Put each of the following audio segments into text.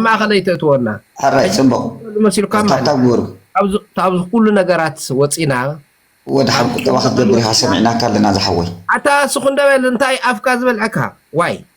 ማእኸለይ ተእትወና ካብዚ ኩሉ ነገራት ወፂና ወዲ ሓቂ ጠባ ክትገብር ኢኻ ሰሚዕናካ ኣለና ዝሓወይ ኣታ ስኹ እንደበል እንታይ ኣፍካ ዝበልዐካ ዋይ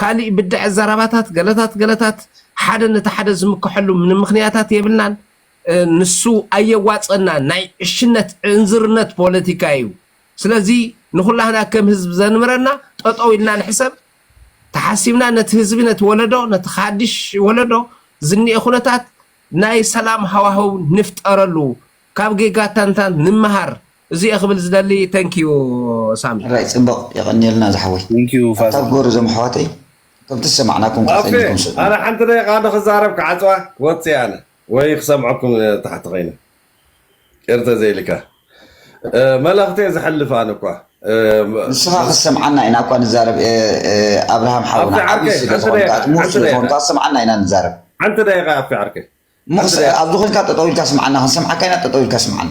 ካሊእ ብድዐ ዘረባታት ገለታት ገለታት ሓደ ነቲ ሓደ ዝምከሐሉ ምንምክንያታት የብልናን ንሱ ኣየዋፀናን ናይ ዕሽነት ዕንዝርነት ፖለቲካ እዩ ስለዚ ንኩላህና ከም ህዝብ ዘንምረና ጠጠው ኢልና ንሕሰብ ተሓሲብና ነቲ ህዝቢ ነቲ ወለዶ ነቲ ሓዲሽ ወለዶ ዝኒኤ ኩነታት ናይ ሰላም ሃዋህው ንፍጠረሉ ካብ ጌጋታንታን ንመሃር እዚ እየ ክብል ዝደሊ thank you ሳሚ። ራይ ጽብቅ የቀንየልና ዝሓወይ። Thank you ኣታ ፋዘር። ጎሩ እዞም ኣሕዋተይ ከምቲ ዝሰማዕናኩም ከኣ ኦኬ ከይንኩም ስእኑ። ኣነ ሓንቲ ደቂቃ ዶ ክዛረብ ክዓጽዋ ክወጽእ እየ ኣነ ወይ ክሰምዐኩም ታሕቲ ኮይነ ቄር ተዘይልካ መልእኽተይ ዝሕልፍ ኣነ እኳ ንስኻ ክትሰምዓና ኢና እኳ ንዛረብ ኣብርሃም ሓውና ኣብቲ ዓቢ ዓርከይ፣ ስለ ሓንቲ ዝኾንካ ደቂቃ፣ እቲ ምሁር ሓንቲ ስለ ደቂቃ። ዝኾንካ ክሰምዓና ኢና ንዛረብ ሓንቲ ደቂቃ ኣብቲ ዓርከይ እሞ ሓንቲ ክስ- ደቂቃ። ኣብዚ ኮይንካ ጠጠው ኢልካ ስምዓና ክንሰምዓካ ኢና ጠጠው ኢልካ ስምዓና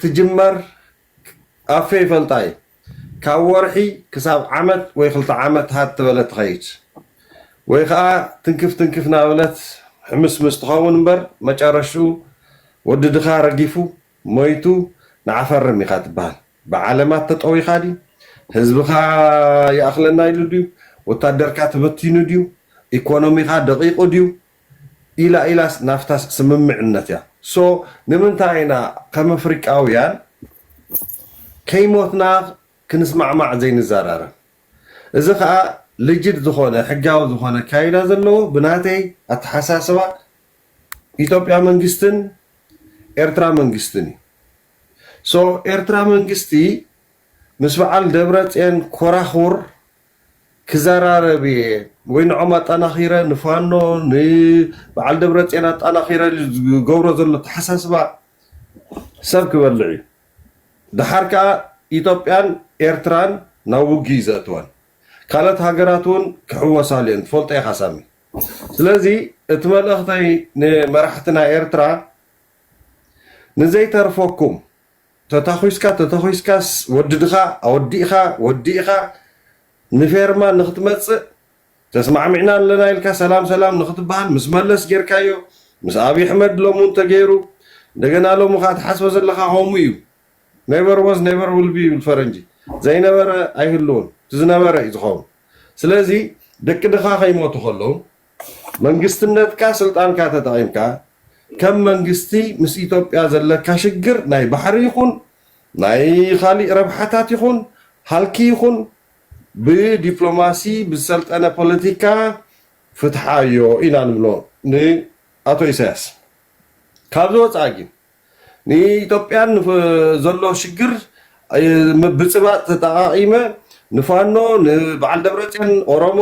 ትጅመር ኣፌ ይፈልጣ እየ ካብ ወርሒ ክሳብ ዓመት ወይ ክልተ ዓመት ሃት ትበለት ትኸይድ ወይ ኸኣ ትንክፍ ትንክፍ ናበለት ሕምስምስ ትኸውን እምበር መጨረሽትኡ ወዲ ድኻ ረጊፉ ሞይቱ ንዓፈርም ኢኻ ትበሃል ብዓለማት ተጠዊኻ ድዩ ህዝብኻ ይኣኽለና ኢሉ ድዩ ወታደርካ ተበቲኑ ድዩ ኢኮኖሚኻ ደቒቑ ድዩ ኢላ ኢላስ ናፍታስ ስምምዕነት እያ so ንምንታይ ኢና ከም ኣፍሪቃውያን ከይሞትና ክንስማዕማዕ ዘይንዛራረብ እዚ ከኣ ልጅድ ዝኾነ ሕጋዊ ዝኾነ ኣካይዳ ዘለዎ ብናተይ ኣተሓሳስባ ኢትዮጵያ መንግስትን ኤርትራ መንግስትን እዩ so ኤርትራ መንግስቲ ምስ በዓል ደብረጼን ኮራኹር ክዘራረብ እየ ወይ ንዖም ኣጣናኺረ ንፋኖ ንበዓል ደብረፅዮን ኣጣናኺረ ዝገብሮ ዘሎ ኣተሓሳስባ ሰብ ክበልዕ እዩ። ደሓር ከዓ ኢትዮጵያን ኤርትራን ናብ ውግእ እዩ ዘእትወን። ካልኦት ሃገራት እውን ክሕወሳሉ እየን ትፈልጦ ኢኻ ሳሚ። ስለዚ እቲ መልእኽተይ ንመራሕትና ኤርትራ ንዘይተርፈኩም ተታኹስካ ተተኹስካስ ወድድኻ ኣወዲእኻ ወዲእኻ ንፌርማ ንኽትመጽእ ተስማዕሚዕና ኣለና ኢልካ ሰላም ሰላም ንኽትበሃል ምስ መለስ ጌርካዮ ምስ ኣብይ ኣሕመድ ሎሚ ውን ተገይሩ እንደገና ሎሚ ኸኣ ትሓስቦ ዘለኻ ኸምኡ እዩ Never was never will be ይብል ፈረንጂ ዘይነበረ ኣይህልውን እቲ ዝነበረ እዩ ዝኸውን ስለዚ ደቂ ድኻ ከይሞቱ ኸለዉ መንግስትነትካ ስልጣንካ ተጠቒምካ ከም መንግስቲ ምስ ኢትዮጵያ ዘለካ ሽግር ናይ ባሕሪ ይኹን ናይ ኻሊእ ረብሓታት ይኹን ሃልኪ ይኹን ብዲፕሎማሲ ብዝሰልጠነ ፖለቲካ ፍትሓዮ ኢና ንብሎ ንኣቶ ኢሳያስ። ካብዚ ወፃኢ ግን ንኢትዮጵያን ዘሎ ሽግር ምብፅባፅ ተጠቓቒመ ንፋኖ ንበዓል ደብረፅዮን ኦሮሞ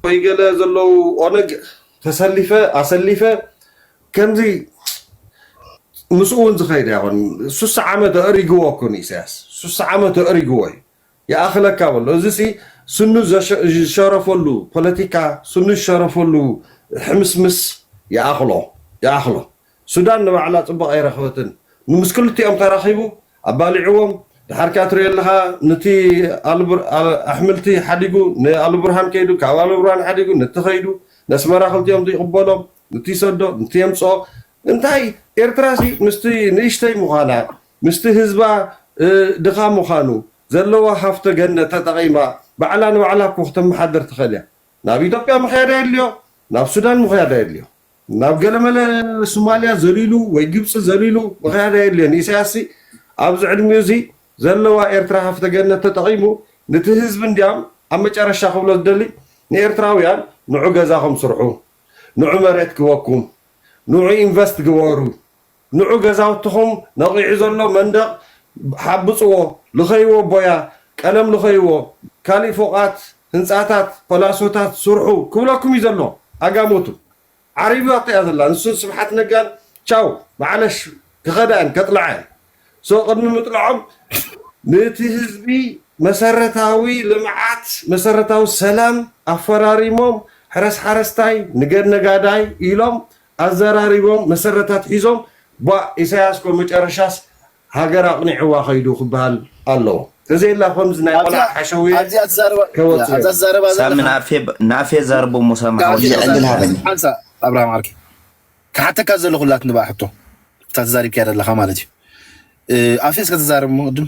ወይ ገለ ዘለዉ ኦነግ ተሰሊፈ ኣሰሊፈ ከምዚ ምስኡ ውን ዝኸይድ ኣይኮን ሱሳ ዓመት ኣእሪግዎ እኮ ንኢሰያስ ሱሳ ዓመት ኣእሪግዎ እዩ ይኣኽለካ በሎ እዚ ሲ ስኑ ዝሸረፈሉ ፖለቲካ ስኑ ዝሸረፈሉ ሕምስምስ ይኣኽሎ ይኣኽሎ ሱዳን ንባዕላ ጽቡቕ ኣይረኽበትን ንምስ ክልቲኦም ተራኺቡ ኣባሊዕዎም ድሓር ከኣ ትሪኦ ኣለኻ ንቲ ኣሕምልቲ ሓዲጉ ን ኣሉብርሃን ከይዱ ካብ ኣሉብርሃን ሓዲጉ ንቲ ከይዱ ነስመራ ክልቲኦም ይቕበሎም ንቲ ይሰዶ ንቲ የምጽኦ እንታይ ኤርትራሲ ምስቲ ንእሽተይ ምዃና ምስቲ ህዝባ ድኻ ምዃኑ ዘለዋ ሃፍተ ገነት ተጠቒማ ባዕላ ንባዕላ እኮ ክተመሓድር ትኽእል እያ ናብ ኢትዮጵያ ምኽያድ ኣየድልዮ ናብ ሱዳን ምኽያድ ኣየድልዮ ናብ ገለመለ ሱማልያ ዘሊሉ ወይ ግብጺ ዘሊሉ ምኽያድ ኣየድልዮን። ኢሳያስሲ ኣብዚ ዕድሚኡዚ ዘለዋ ኤርትራ ሃፍተ ገነት ተጠቒሙ ንቲ ህዝቢ እንድያም ኣብ መጨረሻ ክብሎ ዝደሊ ንኤርትራውያን ንዑ ገዛኹም ስርሑ፣ ንዑ መሬት ክበኩም፣ ንዑ ኢንቨስት ግበሩ፣ ንዑ ገዛውትኹም ነቒዑ ዘሎ መንደቕ ሓብጽዎ፣ ልኸይዎ ቦያ፣ ቀለም ልኸይዎ፣ ካሊእ ፎቓት፣ ህንጻታት፣ ፓላሶታት ስርሑ ክብለኩም እዩ ዘሎ። ኣጋሞቱ። ዓሪባቶ እያ ዘላ ንሱን ስብሓት ነጋን ቻው ብዓለሽ ክኸዳ እየን ከጥልዓ እየን። ሶ ቅድሚ ምጥልዖም ንቲ ህዝቢ መሰረታዊ ልምዓት መሰረታዊ ሰላም ኣፈራሪሞም ሕረስ ሓረስታይ ንገድ ነጋዳይ ኢሎም ኣዘራሪቦም መሰረት ኣትሒዞም ቧእ ኢሳያስ እኮ መጨረሻስ ሃገር ኣቕኒዕዋ ከይዱ ክበሃል ኣለዎ ተዘየላ ከምዚ ናይ ቆልዓ ሓሸውየ ከይወጽእ እዮም። ሳሚ ንኣፌ ኣዛርቦ እሞ ሳሚ ሓወይ። ክሓተካ ዘለኹ ኣላትኒ ባእ ሕቶ እታ ተዛሪብካያ ዘለኻ ማለት እዩ ኣፌ እስከ ተዛረብ እሞ ቅድም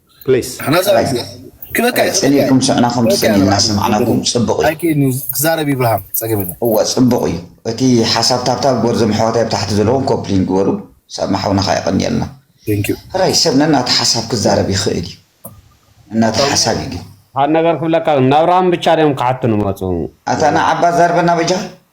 ፕሊስ ንሕና ዘራይ ዩ ክበካ ዩ ጽቡቅ ጸሊእኩም ሽዕና ከም ክበካ ትጽልዩ ይብርሃም እናሰማዕናኩም ጽቡቅ እዩ ኣይክእልን ዩ ክዛረብ ይብርሃም ጸገም የለን እወ ጽቡቅ እዩ እቲ ሓሳብ ታብታብ ግበር ዞም ኣሕዋተይ ኣብ ታሕቲ ዘለዉ ኮፕሊንግ ግበሩ ሳማ ሓውና ከኣ የቀንየልና Thank you ሕራይ ሰብ ነናቱ ሓሳብ ክዛረብ ይክእል እዩ ነናቱ ሰሙ ሓሳብ እዩ ግን ሓድ ነገር ክብለካ ግን ናብርሃም ብቻ ድዮም ክሓቱ ንመጹ ኣታ ንዓባ ዛርበና በጃኻ።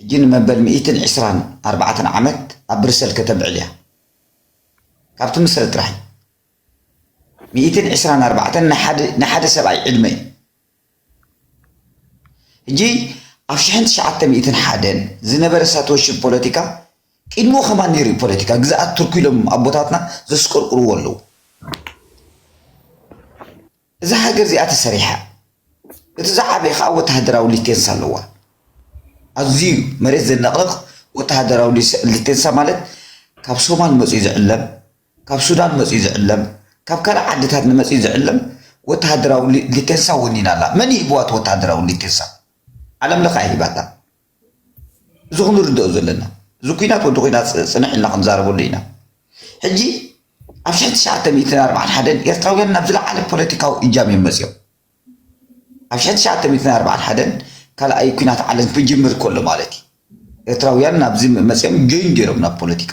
ሕጂ ንመበል ሚእትን ዕስራን ኣርባዕተን ዓመት ኣብ ብርሰል ከተብዕል እያ። ካብቲ ምስረ ጥራይ። ሚእትን ዕስራን ኣርባዕተን ናይ ሓደ ሰብኣይ ዕድመ እዩ። ሕጂ ኣብ ሽሕን ትሽዓተ ሚእትን ሓደን ዝነበረ ሳትወሽብ ፖለቲካ ቅድምኡ ከማን ነይሩ እዩ ፖለቲካ ግዝኣት ቱርኪ ኢሎም ኣቦታትና ዘስቆርቁርዎ ኣለዉ። እዛ ሃገር እዚኣ ተሰሪሓ እቲ ዝዓበየ ከዓ ወተሃደራዊ ሊቴንሳ ኣለዋ። ኣዝዩ መሬት ዘነቕንቕ ወተሃደራዊ ሊቴንሳ ማለት ካብ ሶማል መፅዩ ዝዕለም፣ ካብ ሱዳን መፅዩ ዝዕለም፣ ካብ ካልእ ዓድታት ንመፅዩ ዝዕለም ወተሃደራዊ ሊቴንሳ ወኒና ኣላ። መን እዩ ሂብዋ እቲ ወተሃደራዊ ሊቴንሳ? ዓለም ለኸ እያ ሂባታ። እዚ ኩሉ ንርድኦ ዘለና እዚ ኩናት ወዲ ኩናት ጽንሕ ኢልና ክንዛረበሉ ኢና። ሕጂ ኣብ ሽሕን ትሽዓተ ሚእትን ኣርብዓን ሓደን ኤርትራውያን ናብ ዝለዓለ ፖለቲካዊ እጃም እዮም መጺኦም። ኣብ ሽሕን ትሽዓተ ሚእትን ኣርብዓን ሓደን ካልኣይ ኩናት ዓለም ክጅምር ከሎ ማለት እዩ። ኤርትራውያን ናብዚ መጺኦም ጆይን ገይሮም ናብ ፖለቲካ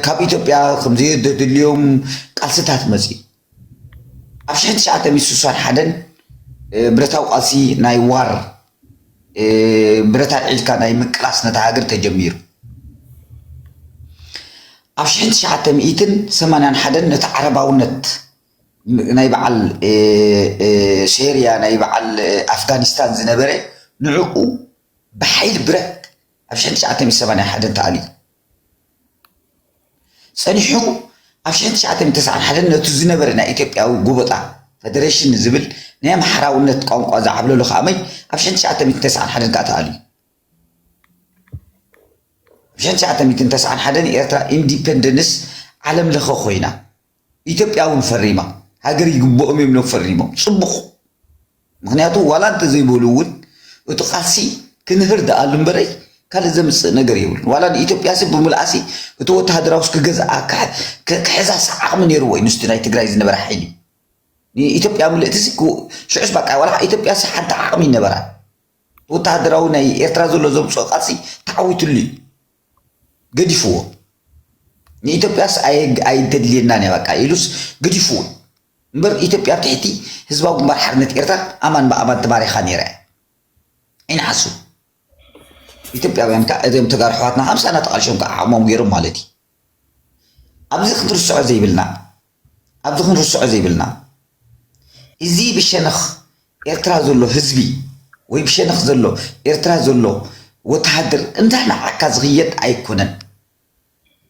ካብ ኢትዮጵያ ከምዘየድልዮም ቃልስታት መጺ ኣብ ሽሕን ትሽዓተ ሚእቲ ስሳን ሓደን ብረታዊ ቃልሲ ናይ ዋር ብረት ኣልዒልካ ናይ ምቅላስ ነታ ሃገር ተጀሚሩ። ኣብ ሽሕን ትሽዓተ ሚእትን ሰማንያን ሓደን ነቲ ዓረባውነት ናይ በዓል ሴርያ ናይ በዓል ኣፍጋኒስታን ዝነበረ ንዕኡ ብሓይሊ ብረት ኣብ ሽሕን ትሽዓተ ሚእቲ ሰማንያን ሓደን ተኣልዩ። ጸኒሑ ኣብ ሽሕን ትሽዓተን ተስዓን ሓደን ነቱ ዝነበረ ናይ ኢትዮጵያዊ ጎበጣ ፈደረሽን ዝብል ናይ ኣምሓራውነት ቋንቋ ዝዓብለሎ ከኣመይ ኣብ ሽሕን ትሽዓተ ሚእትን ተስዓን ሓደን ከኣ ተኣልዩ። ኣብ ሽሕን ትሽዓተ ሚእትን ተስዓን ሓደን ኤርትራ ኢንዲፐንደንስ ዓለም ለኸ ኮይና ኢትዮጵያ እውን ፈሪማ ሃገር ይግብኦም እዮም ኢሎም ፈሪሞም ፅቡቕ ምክንያቱ ዋላ እንተዘይበሉ እውን እቲ ቃልሲ ክንህር ደኣሉ እምበረይ ካልእ ዘምፅእ ነገር የብሉን ዋላ ንኢትዮጵያሲ ብምልኣሲ እቲ ወተሃደራውስ ክገዝኣ ክሕዛስ ዓቕሚ ነይርዎ እዩ ምስቲ ናይ ትግራይ ዝነበረ ሓይሊ ንኢትዮጵያ ምልእቲሲ ሽዑስ በቃ ዋላ ኢትዮጵያሲ ሓንቲ ዓቕሚ ይነበራ ወተሃደራዊ ናይ ኤርትራ ዘሎ ዘምፅኦ ቃልሲ ተዓዊትሉ እዩ ገዲፍዎ ንኢትዮጵያስ ኣይተድልየናን እያ በቃ ኢሉስ ገዲፍዎ እምበር ኢትዮጵያ ኣብ ትሕቲ ህዝባዊ ግንባር ሓርነት ኤርትራ ኣማን ብኣማን ተማሪኻ ነይራ እያ ይንዓሱ ኢትዮጵያውያን ከዓ እዚኦም ተጋሩ ኣሕዋትና ሃምሳና ተቓልሾም ከዓ ዓቕሞም ገይሮም ማለት እዩ ኣብዚ ክትርስዖ ዘይብልና ኣብዚ ክንርስዖ ዘይብልና እዚ ብሸነኽ ኤርትራ ዘሎ ህዝቢ ወይ ብሸነኽ ዘሎ ኤርትራ ዘሎ ወተሃደር እንዳ ነዓካ ዝኽየድ ኣይኮነን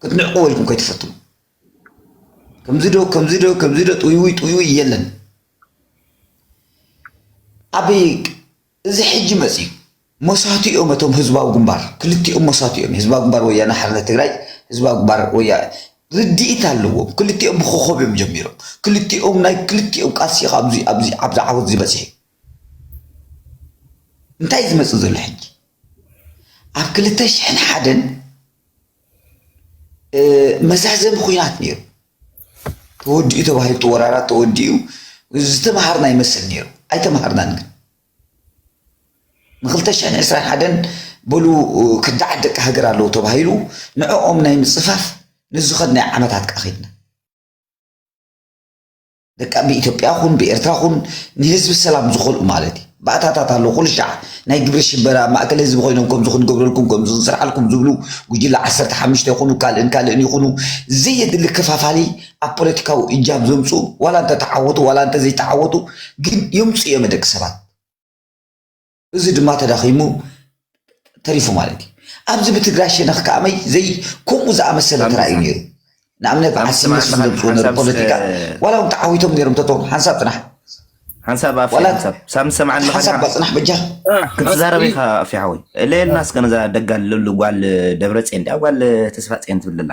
ክትንዕቅዎ ኢልኩም ከይትፈትኑ ከምዚ ዶ ከምዚ ዶ ከምዚ ዶ ጥውይውይ ጥውይውይ የለን ኣብ እዚ ሕጂ መጺኡ መሳቲኦም እቶም ህዝባዊ ግንባር ክልቲኦም መሳቲኦም ህዝባዊ ግንባር ወያነ ሓርነት ትግራይ ህዝባዊ ግንባር ወያ ርድኢት ኣለዎም ክልቲኦም ብኮኾብ እዮም ጀሚሮም ክልቲኦም ናይ ክልቲኦም ቃልሲ ኣብዚ ኣብዚ ኣብዚ ዓወት እዚ በጺሑ እንታይ ዝመጽእ ዘሎ ሕጂ ኣብ ክልተ ሽሕን ሓደን መዛዘሚ ኩናት ነይሩ ተወዲኡ ተባሂሉ እቲ ወራራት ተወዲኡ ዝተምሃርና ይመስል ነይሩ ኣይተምሃርናን ግን ንክልተ ሽሕን ዕስራን ሓደን በሉ ከዳዓት ደቂ ሃገር ኣለዉ ተባሂሉ ንዕኦም ናይ ምፅፋፍ ንዝኸድናዮ ዓመታት ከዓ ከይድና በቃ ብኢትዮጵያ ኹን ብኤርትራ ኹን ንህዝቢ ሰላም ዝኾልኡ ማለት እዩ ባእታታት ኣሎ ኩሉ ሻዕ ናይ ግብሪ ሽበራ ማእከል ህዝቢ ኮይኖም ከምዚ ክንገብረልኩም ከምዚ ክንስርሓልኩም ዝብሉ ጉጅለ ዓሰርተ ሓሙሽተ ይኹኑ ካልእን ካልእን ይኹኑ ዘየድሊ ከፋፋሊ ኣብ ፖለቲካዊ እጃም ዘምፅኡ ዋላ እንተተዓወቱ ዋላ እንተዘይተዓወቱ ግን የምፅኡ እዮም ደቂ ሰባት እዚ ድማ ተዳኺሙ ተሪፉ ማለት እዩ ኣብዚ ብትግራይ ሸነኽ ከኣመይ ዘይ ከምኡ ዝኣመሰለ ተራእዩ ነይሩ ንኣብነት ዓስነት ዝመፅኡ ነሩ ፖለቲካ ዋላ እውን ተዓዊቶም ነይሮም ተቶ ሓንሳብ ፅናሕ ሓንሳብ ኣፊ ሓንሳብ ሳብ ሰምዓ ሓንሳብ ባፅናሕ በጃ ክትዛረብ ኢኻ ኣፊ ሓወይ እለየልና እስከ ነዛ ደጋል ጓል ደብረ ፅን ድያ ጓል ተስፋ ፅን ትብልላ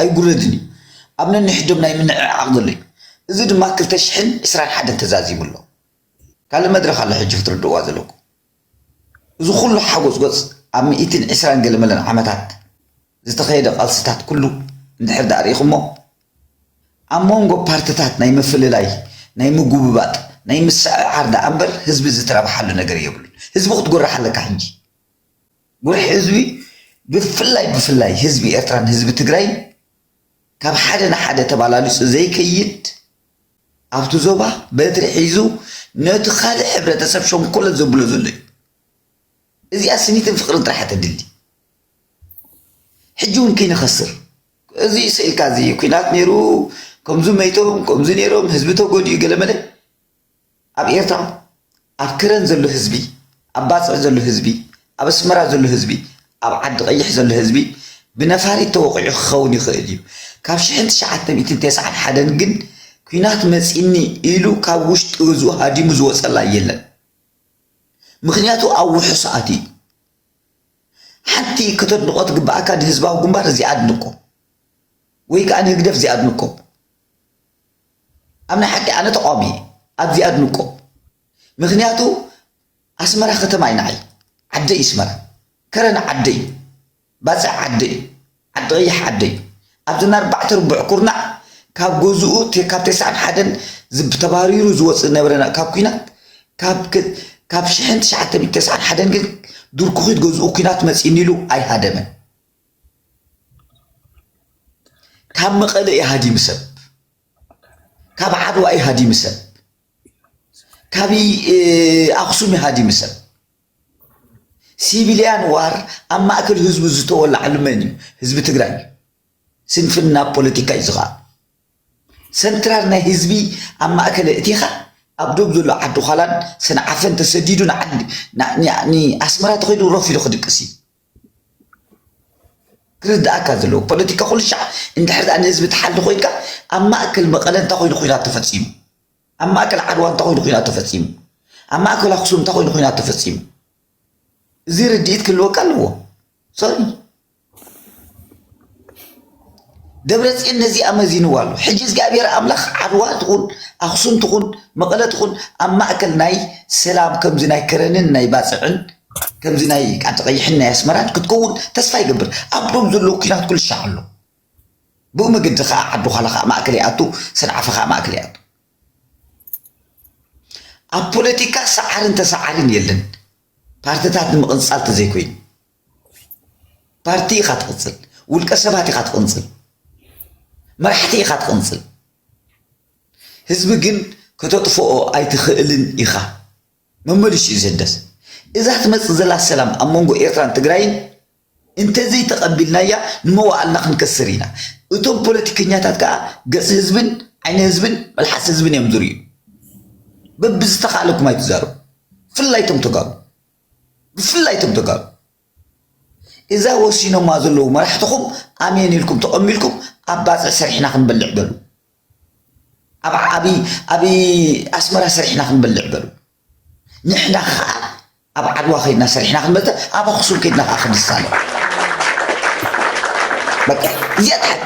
ኣይጉረድን እዩ ኣብ ነንሕዶም ናይ ምንዕዓቕ ዘሎ እዩ እዚ ድማ ክልተ ሽሕን ዕስራን ሓደን ተዛዚሙ ኣሎ ካልእ መድረኽ ኣሎ ሕጂ ክትርድእዋ ዘለኩም እዚ ኩሉ ሓጎጽጎጽ ኣብ ሚእትን ዕስራን ገለመለን ዓመታት ዝተኸየደ ቃልስታት ኩሉ እንድሕር ደኣ ርኢኹሞ ኣብ መንጎ ፓርትታት ናይ ምፍልላይ ናይ ምጉብባጥ ናይ ምስዕዓር ደኣ እምበር ህዝቢ ዝተረብሓሉ ነገር የብሉን ህዝቢ ክትጎርሕ ኣለካ ሕጂ ውሕዝዊ ብፍላይ ብፍላይ ህዝቢ ኤርትራን ህዝቢ ትግራይን ካብ ሓደ ንሓደ ተባላሊጹ ዘይከይድ ኣብቲ ዞባ በትሪ ሒዙ ነቲ ካልእ ሕብረተሰብ ሸንኮለት ዘብሎ ዘሎ እዩ። እዚኣ ስኒትን ፍቅርን ጥራሕ ተድሊ ሕጂ እውን ከይንኸስር እዚ ስኢልካ እዚ ኩናት ነይሩ ከምዚ መይቶም ከምዚ ነይሮም ህዝቢ ተጎዲኡ ገለመለ ኣብ ኤርትራ ኣብ ከረን ዘሎ ህዝቢ ኣብ ባጽዕ ዘሎ ህዝቢ ኣብ ኣስመራ ዘሎ ህዝቢ ኣብ ዓዲ ቐይሕ ዘሎ ህዝቢ ብነፋሪት ተወቒዑ ክኸውን ይኽእል እዩ ካብ ሽሕን ትሽዓተ ሚእትን ተስዓን ሓደን ግን ኩናት መጺኒ ኢሉ ካብ ውሽጢ ገዝኡ ሃዲሙ ዝወጸላ የለን ምክንያቱ ኣብ ውሑስ ኣትዩ ሓንቲ ከተድንቆ ትግብኣካ ንህዝባዊ ግንባር እዚ ኣድንቆ ወይ ከዓ ንህግደፍ እዚ ኣድንቆ ኣብ ናይ ሓቂ ኣነ ተቃዋሚ እየ ኣብዚ ኣድንቆ ምክንያቱ ኣስመራ ከተማይ ንዓይ ዓደይ እስመራ ከረን ዓደይ ባጽዕ ዓደይ ዓዲ ቀይሕ ዓደይ ኣብዚ ኣርባዕተ ርቡዕ ኩርናዕ ካብ ገዝኡ ካብ ተስዓን ሓደን ተባሪሩ ዝወፅእ ነበረ ካብ ኩናት ካብ ሽሕን ትሽዓተ ሚእቲ ተስዓን ሓደን ግን ድርኩኺት ገዝኡ ኩናት መፂኒ ኢሉ ኣይሃደመን ካብ መቐለ እዩ ሃዲሙ ሰብ ካብ ዓድዋ እዩ ሃዲሙ ሰብ ካብ ኣኽሱም እዩ ሃዲሙ ሰብ ሲቪልያን ዋር ኣብ ማእከል ህዝቡ ዝተወላዓሉ መን እዩ ህዝቢ ትግራይ ስንፍና ፖለቲካ እዩ ዝኸኣ ሰንትራል ናይ ህዝቢ ኣብ ማእከለ እቲኻ ኣብ ዶብ ዘሎ ዓዲ ኋላን ሰንዓፈን ተሰዲዱ ንዓዲ ንኣስመራ ተኸይዱ ረፍ ኢሉ ክድቅስ እዩ ክርደኣካ ዘለዎ ፖለቲካ ኩሉ ሻዕ እንድሕር ድኣ ንህዝቢ ትሓሊ ኮይንካ ኣብ ማእከል መቐለ እንታይ ኮይኑ ኩናት ተፈጺሙ ኣብ ማእከል ዓድዋ እንታይ ኮይኑ ኩናት ተፈጺሙ ኣብ ማእከል ኣክሱም እንታይ ኮይኑ ኩናት ተፈጺሙ እዚ ርድኢት ክህልወካ ኣለዎ ሶሪ ደብረፅዮን ነዚኣ መዚንዋ ኣሎ። ሕጂ እዝግኣብሄር ኣምላኽ ዓድዋ ትኹን ኣኽሱም ትኹን መቐለ ትኹን ኣብ ማእከል ናይ ሰላም ከምዚ ናይ ከረንን ናይ ባጽዕን ከምዚ ናይ ቃልቲ ቀይሕን ናይ ኣስመራን ክትከውን ተስፋ ይገብር። ኣብቶም ዘለዉ ኩናት ኩልሻዕ ኣሎ። ብኡ መገዲ ከዓ ዓዱ ዃላ ከዓ ማእከል ይኣቱ፣ ሰንዓፈ ከዓ ማእከል ይኣቱ። ኣብ ፖለቲካ ሰዓርን ተሰዓርን የለን ፓርትታት ንምቕንጻል ተዘይኮይኑ። ፓርቲ ኢኻ ትቕንጽል፣ ውልቀ ሰባት ኢኻ ትቕንጽል፣ መራሕቲ ኢኻ ትቕንጽል፣ ህዝቢ ግን ከተጥፍኦ ኣይትኽእልን ኢኻ። መመሊሹ እዩ ዘደስ። እዛ ትመጽእ ዘላ ሰላም ኣብ መንጎ ኤርትራን ትግራይን እንተዘይተቐቢልናያ ንመዋእልና ክንከስር ኢና። እቶም ፖለቲከኛታት ከኣ ገጽ ህዝብን ዓይኒ ህዝብን መልሓስ ህዝብን እዮም ዝርእዩ። በብዝተኻእለኩም ኣይትዛረቡ፣ ብፍላይ እቶም ተጋሩ። ብፍላይ እቶም ተጋሩ እዛ ወሲኖማ ዘለዉ መራሕትኹም ኣሜን ኢልኩም ተቐሚልኩም ኣብ ባፅዕ ሰሪሕና ክንበልዕ በሉ ኣብ ኣስመራ ሰሪሕና ክንበልዕ በሉ ንሕና ከዓ ኣብ ዓድዋ ከይድና ሰሪሕና ክንበልተ ኣብ ኣክሱም ከይድና ከዓ ክንሳለ በቃ እዚኣ ትሓቂ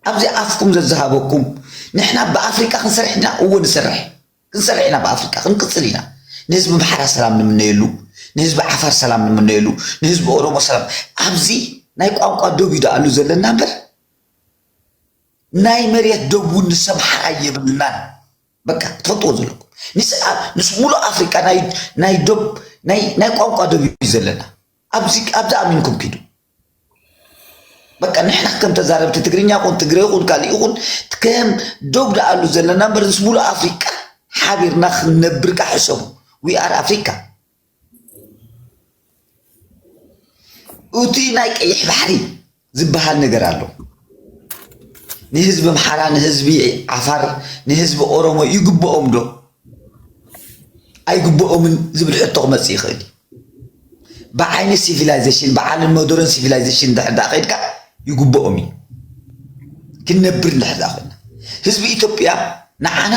ኣብዚ ኣፍኩም ዘዝሃበኩም ንሕና ብኣፍሪቃ ክንሰርሕ ድና እዎ ንሰርሕ ክንሰርሕ ኢና ብኣፍሪቃ ክንቅጽል ኢና ንህዝቢ ኣምሓራ ሰላም ንምነየሉ ንህዝቢ ዓፋር ሰላም ንምነየሉ ንህዝቢ ኦሮሞ ሰላም ኣብዚ ናይ ቋንቋ ዶብ እዩ ደኣሉ ዘለና እምበር ናይ መሬት ዶብ እውን ንስ ኣምሓራ የብልናን በቃ ትፈልጥዎ ዘለኩም ንስ ሙሉእ ኣፍሪቃ ናይ ዶብ ናይ ቋንቋ ዶብ እዩ ዘለና ኣብዚ ኣብዚ ኣሚንኩም ኪዱ በቃ ንሕና ከም ተዛረብቲ ትግርኛ ኹን ትግሬ ኹን ካልእ ይኹን ከም ዶብ ደኣሉ ዘለና እምበር ምስ ሙሉእ ኣፍሪቃ ሓቢርና ክንነብር ካ ሕሰቡ ዊ ኣር ኣፍሪካ እቲ ናይ ቀይሕ ባሕሪ ዝበሃል ነገር ኣሎ ንህዝቢ ኣምሓራ ንህዝቢ ዓፋር ንህዝቢ ኦሮሞ ይግብኦም ዶ ኣይግብኦምን ዝብል ሕቶ ክመፅእ ይኽእል እዩ ብዓይኒ ሲቪላይዘሽን ብዓልን ሞደርን ሲቪላይዘሽን እንድሕር ደኣ ከይድካ ይግብኦም እዩ ክንነብር እንድሕር ደኣ ኮይና ህዝቢ ኢትዮጵያ ንዓና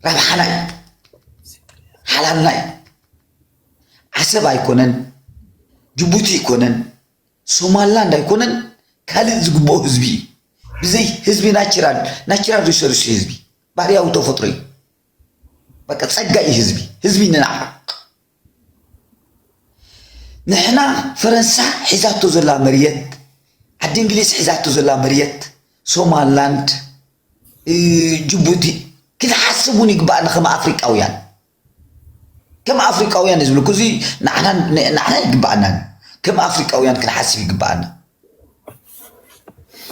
ረብሓና እዩ ሓላልና እዩ ዓሰብ ኣይኮነን ጅቡቲ ኣይኮነን ሶማላንድ ኣይኮነን ካልእ ዝግብኦ ህዝቢ እዩ ብዘይ ህዝቢ ናቸራል ናቸራል ሪሶርስ ህዝቢ ባህርያዊ ተፈጥሮ እዩ በቃ ጸጋ እዩ ህዝቢ ህዝቢ ንናፍቅ ንሕና ፈረንሳ ሒዛቶ ዘላ መርየት ዓዲ እንግሊዝ ሒዛቶ ዘላ መርየት ሶማላንድ ጅቡቲ ክንሓስብ እውን ይግባእና ከም ኣፍሪቃውያን ከም ኣፍሪቃውያን ዝብልኩ እዚ ንዓና ንዓና ይግባኣና ከም ኣፍሪቃውያን ክንሓስብ ይግባኣና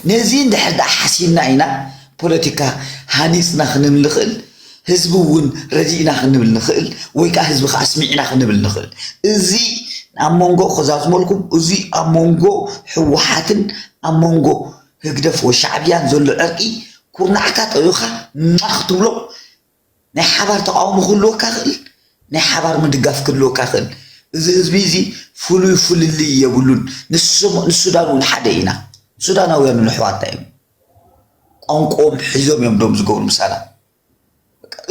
ነዚ እንድሕር ደኣ ሓሲብና ኢና ፖለቲካ ሃኒጽና ክንብል ንኽእል፣ ህዝቢ እውን ረዲእና ክንብል ንኽእል ወይ ከኣ ህዝቢ ከኣ ስሚዕና ክንብል ንኽእል። እዚ ኣብ መንጎ ከዛዝመልኩም እዚ ኣብ መንጎ ህወሓትን ኣብ መንጎ ህግደፍ ወይ ሻዕብያን ዘሎ ዕርቂ ኩርናዕካ ጠዊኻ ሟኽ ክትብሎ ናይ ሓባር ተቓውሞ ክህልወካ ይኽእል፣ ናይ ሓባር ምድጋፍ ክህልወካ ይኽእል። እዚ ህዝቢ እዚ ፍሉይ ፍልልይ የብሉን። ንሶም ንሱዳን እውን ሓደ ኢና። ሱዳናውያን እውን ኣሕዋትና እዮም። ቋንቋኦም ሒዞም እዮም ዶም ዝገብሩ ምሳና።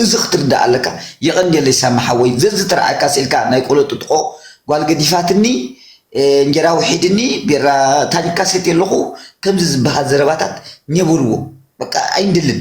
እዚ ክትርዳእ ኣለካ የቐንየለይ ሳሚ ሓወይ ዘዝተረኣካ ስእልካ ናይ ቆሎ ጥጥቆ ጓል ገዲፋትኒ እንጀራ ውሒድኒ ቢራ ታኒካ ሰትየ ኣለኹ ከምዚ ዝበሃል ዘረባታት ኘብርዎ በቃ ኣይንደልን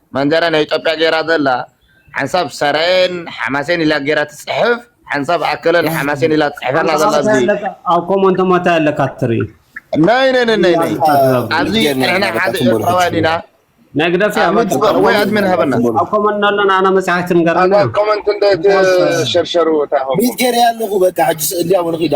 መንደረ ናይ ኢትዮጵያ ገይራ ዘላ ሓንሳብ ሰራየን ሓማሴን ኢላ ገይራ ትጽሕፍ ሓንሳብ ኣከለን ሓማሴን ኢላ ትጽሕፍ ኣላ ዘላ ኣብዚ ኣብ ኮመንት ሞታይ ኣለካ ትርኢ ናይ ናይ ናይ ናይ ናይ ኣብዚ ንሕና ሓደ ኤርትራውያን ኢና ናይ ግደፍ እያ ኣድሚን ትበ- ወይ ኣድሚን ሃበና ኣብ ኮመንት ነሎና ኣነ መጽሓፍ ትንገረና ኮመንት እንደ ሸርሸሩ እታ ሆም ሚት ገይረ ኣለኹ በቃ ሕጂ ስእሊ ኣብኡ ንኺዳ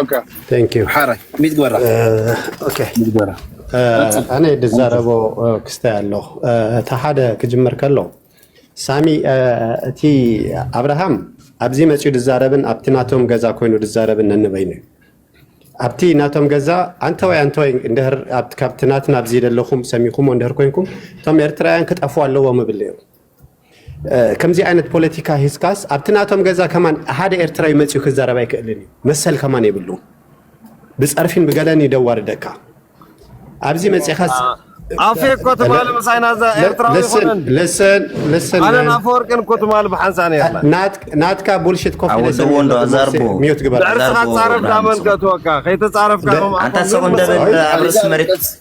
ኦኬ ቴንክ ዩ ሓራይ ሚት ግበራ ኦኬ ሚት ግበራ ቀጽል ኣነ ድዛረቦ ክስታይ ኣሎ እቲ ሓደ ክጅምር ከሎ ሳሚ እ፣ እቲ ኣብርሃም ኣብዚ መፅኡ ድዛረብን ኣብቲ ናቶም ገዛ ኮይኑ ድዛረብን ነንበይኑ እዩ ኣብቲ ናቶም ገዛ ኣንተወይ ኣንተወይ እንድህር ኣብቲ- ካብቲ ናትና ኣብዚ ዘለኹም ሰሚኹሞ እንድህር ኮንኩም እቶም ኤርትራውያን ክጠፍኡ ኣለዎም እብል ነይሩ ከምዚ ዓይነት ፖለቲካ ሂዝካስ ኣብቲ ናቶም ገዛ ከማን ሓደ ኤርትራዊ መጺኡ ክዛረብ ኣይክእልን እዩ መሰል ከማን የብሉ ብጸርፊን ብገለን ይደዋርደካ ኣብዚ መጺኻስ ኣፌ እኮ ትማሊ ምሳይና እዛ ኤርትራዊ ይኹንን ለሰን ለሰን ኣነን ኣፈወርቅን እኮ ትማሊ ብሓንሳ ነርና ናትካ ቡልሽት ኮፍ ለሰን ወንዶ ኣዛርቦ ሚዩት ግበር ድሕሪ ስኻ ጻረፍ ዳመልከትወካ ከይተጻረፍካ ኣንታ ሰው እንደበል ኣብርስ መሬት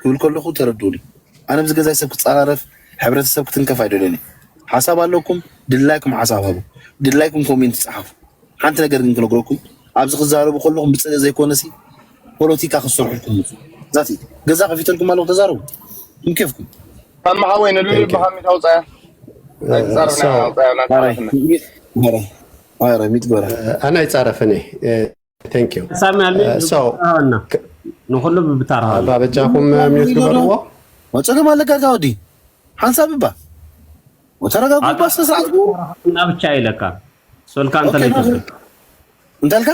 ክብል ከለኹ ተረድኡኒ ኣነ ምስ ገዛይ ሰብ ክጻራረፍ ሕብረተሰብ ክትንከፍ ኣይደልዮን እየ ሓሳብ ኣለኩም ድላይኩም ሓሳብ ሃቡ ድላይኩም ኮሜንት ጻሓፉ ሓንቲ ነገር ግን ክነግረኩም ኣብዚ ክዛረቡ ከለኹም ብጽልኢ ዘይኮነሲ ፖለቲካ ክትሰርሑልኩም ምጹ ዛቲ ገዛ ከፊተልኩም ኣለኹ ተዛረቡ ም ኬፍኩም ኣማ ሓወይ ንሉሊ ብሃሚት ኣውጻያ ኣይትጻረፍ ናይ ኣውጻያ ናይ ጻረፍና ኣረ ሚት ጎራ ኣነ ኣይጻረፍን እየ Thank you. ሳሚ ኣልሚ Uh, so, ኣና ክ- ንኹሉ ብብታራ ኣባ በጃኹም ሚዩት ግበርዎ። ወፀገም ኣለካ እዛ ወዲ ሓንሳብ እባ ወተረጋጉ እባ ስነ ስርዓት ግቡ እና ብቻ ይለካ ሶልካ እንተ ኦኬ፣ ለይተሰ እንታይ ኣልካ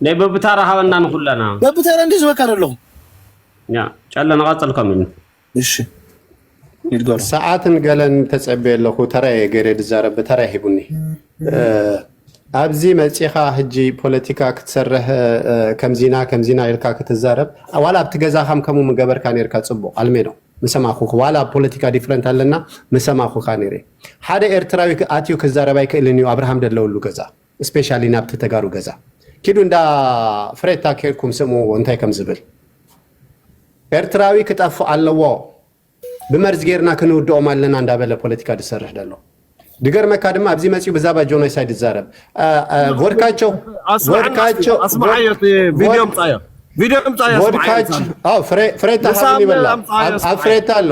ናይ በብታራ ሃበና ንኹለና በብተራ እንዲ ዝበካ ደለኹ ያ ጨለ ንቐፅል ከም ኢሉ እሺ ይድገሎ። ሰዓትን ገለን ተጸቤ ኣለኹ ተራየ ገሬ ድዛረብ ብተራይ ሂቡኒ ኣብዚ መጺኻ ህጂ ፖለቲካ ክትሰርህ ከምዚና ከምዚና ኢልካ ክትዛረብ ዋላ ኣብቲ ገዛኻም ከምኡ ምገበርካ ነርካ ጽቡቕ ኣልሜዶ ምሰማኹ ዋላ ኣብ ፖለቲካ ዲፍረንት ኣለና ምሰማኹካ ነረ ሓደ ኤርትራዊ ኣትዩ ክዛረብ ኣይክእልን እዩ ኣብርሃም ደለውሉ ገዛ እስፔሻሊ ናብቲ ተጋሩ ገዛ ኪዱ እንዳ ፍሬታ ኬድኩም ስምዕዎ እንታይ ከም ዝብል ኤርትራዊ ክጠፍእ ኣለዎ ብመርዚ ጌርና ክንውድኦም ኣለና እንዳበለ ፖለቲካ ዝሰርሕ ዘሎ ድገርመካ ድማ ኣብዚ መፅኡ ብዛባ ጆኖሳይድ ዝዛረብ ቮድካቸው ቮድካቸው ፍሬታ ሓብኒ ይበላ ኣብ ፍሬታ ኣሎ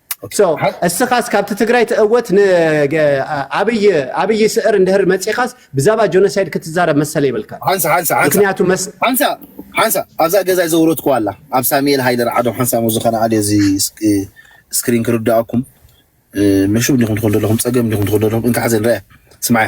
እስኻስ ካብቲ ትግራይ ትእወት ንኣብይ ስዕር እንድህር መፂኻስ ብዛባ ጆኖሳይድ ክትዛረብ መሰለ ይብልካ ምክንያቱ ሓንሳ ኣብዛ ገዛ ዘውረድኩ ኣላ ኣብ ሳሙኤል ሃይለ ርዓዶ ሓንሳ ሞ ዝኾነ ኣደ እዚ ስክሪን ክርዳኣኩም መሹብ እንዲኹም ትኸደለኹም ፀገም እንዲኹም ትኸደለኹም እንካሓዘ ንረያ ስማያ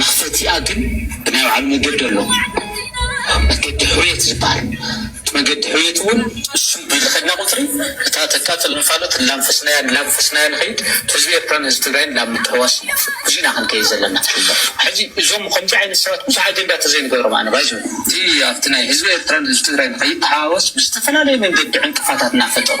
መኽፈቲኣ ግን ብናይ ባዕሉ መገዲ ኣሎ መገዲ ሕውየት ዝባሃል እቲ መገዲ ሕውየት እውን እሱይ ቢሉ ከድና ቁፅሪ እታ ተቃፅል እንፋሎት እላንፈስናያ እላንፈስናያ ንኸይድ ህዝቢ ኤርትራ ን ህዝቢ ትግራይን ናብ ምትሕውዋስ እዩ ብዙይ ኢና ክንከይድ ዘለና ሕዚ እዞም ከምዙይ ዓይነት ሰባት ብዙሕ ኣጀንዳ ተዘይንገብሮም ኣነ ባይዘ እቲ ኣብቲ ናይ ህዝቢ ኤርትራ ን ህዝቢ ትግራይ ንኸይተሓዋወስ ብዝተፈላለየ መንገዲ ዕንቅፋታት እናፈጠሩ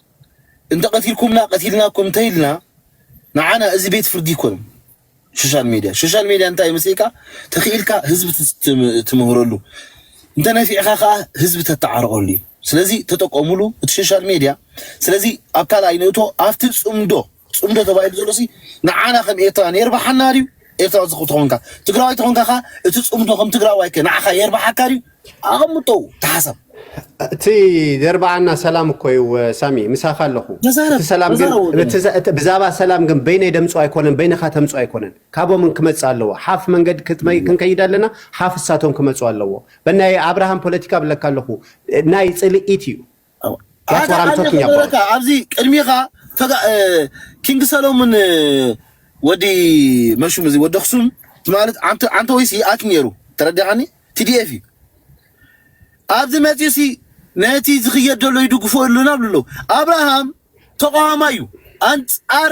እንተቀቲልኩምና ቀቲልናኩም እንተኢልና ንዓና እዚ ቤት ፍርዲ ኣይኮነን። ሶሻል ሚድያ ሶሻል ሚድያ እንታይ መስልካ ተኽኢልካ ህዝቢ ትምህረሉ እንተነፊዕካ ከዓ ህዝቢ ተተዓርቀሉ እዩ። ስለዚ ተጠቀሙሉ እቲ ሶሻል ሚድያ። ስለዚ ኣብ ካልኣይ ንእቶ ኣብቲ ፅምዶ ፅምዶ ተባሂሉ ዘሎ ሲ ንዓና ከም ኤርትራ የርብሓና ድዩ? ኤርትራዊ ተኾንካ ትግራዋይ ተኾንካ ከ እቲ ፅምዶ ከም ትግራዋይ ከ ንዓኻ የርብሓካ ድዩ? ኣቐምጦ ተሓሳብ። እቲ ዘርብዓና ሰላም እኮ እዩ ሳሚ ምሳኻ ኣለኹ እቲ ሰላም ግን ብዛባ ሰላም ግን በይነይ ደምፁ ኣይኮነን በይንኻ ተምፁ ኣይኮነን ካቦምን ክመፅ ኣለዎ ሓፍ መንገድ ክንከይድ ኣለና ሓፍ እሳቶም ክመፁ ኣለዎ በናይ ኣብርሃም ፖለቲካ ብለካ ኣለኹ ናይ ፅልኢት እዩ ሓደ ቃል ክብለካ ኣብዚ ቅድሚኻ ኪንግ ሰሎሙን ወዲ መሹም እዚ ወዲ ኣክሱም ማለት ዓንተ ዓንተ ወይስ ይኣክ ነይሩ ተረዲኻኒ ቲዲኤፍ እዩ ኣብዚ መፅኡ ሲ ነቲ ዝኽየድ ዘሎ ይድግፎ ኣለና ብሎ ኣብርሃም ተቃዋማይ እዩ ኣንፃር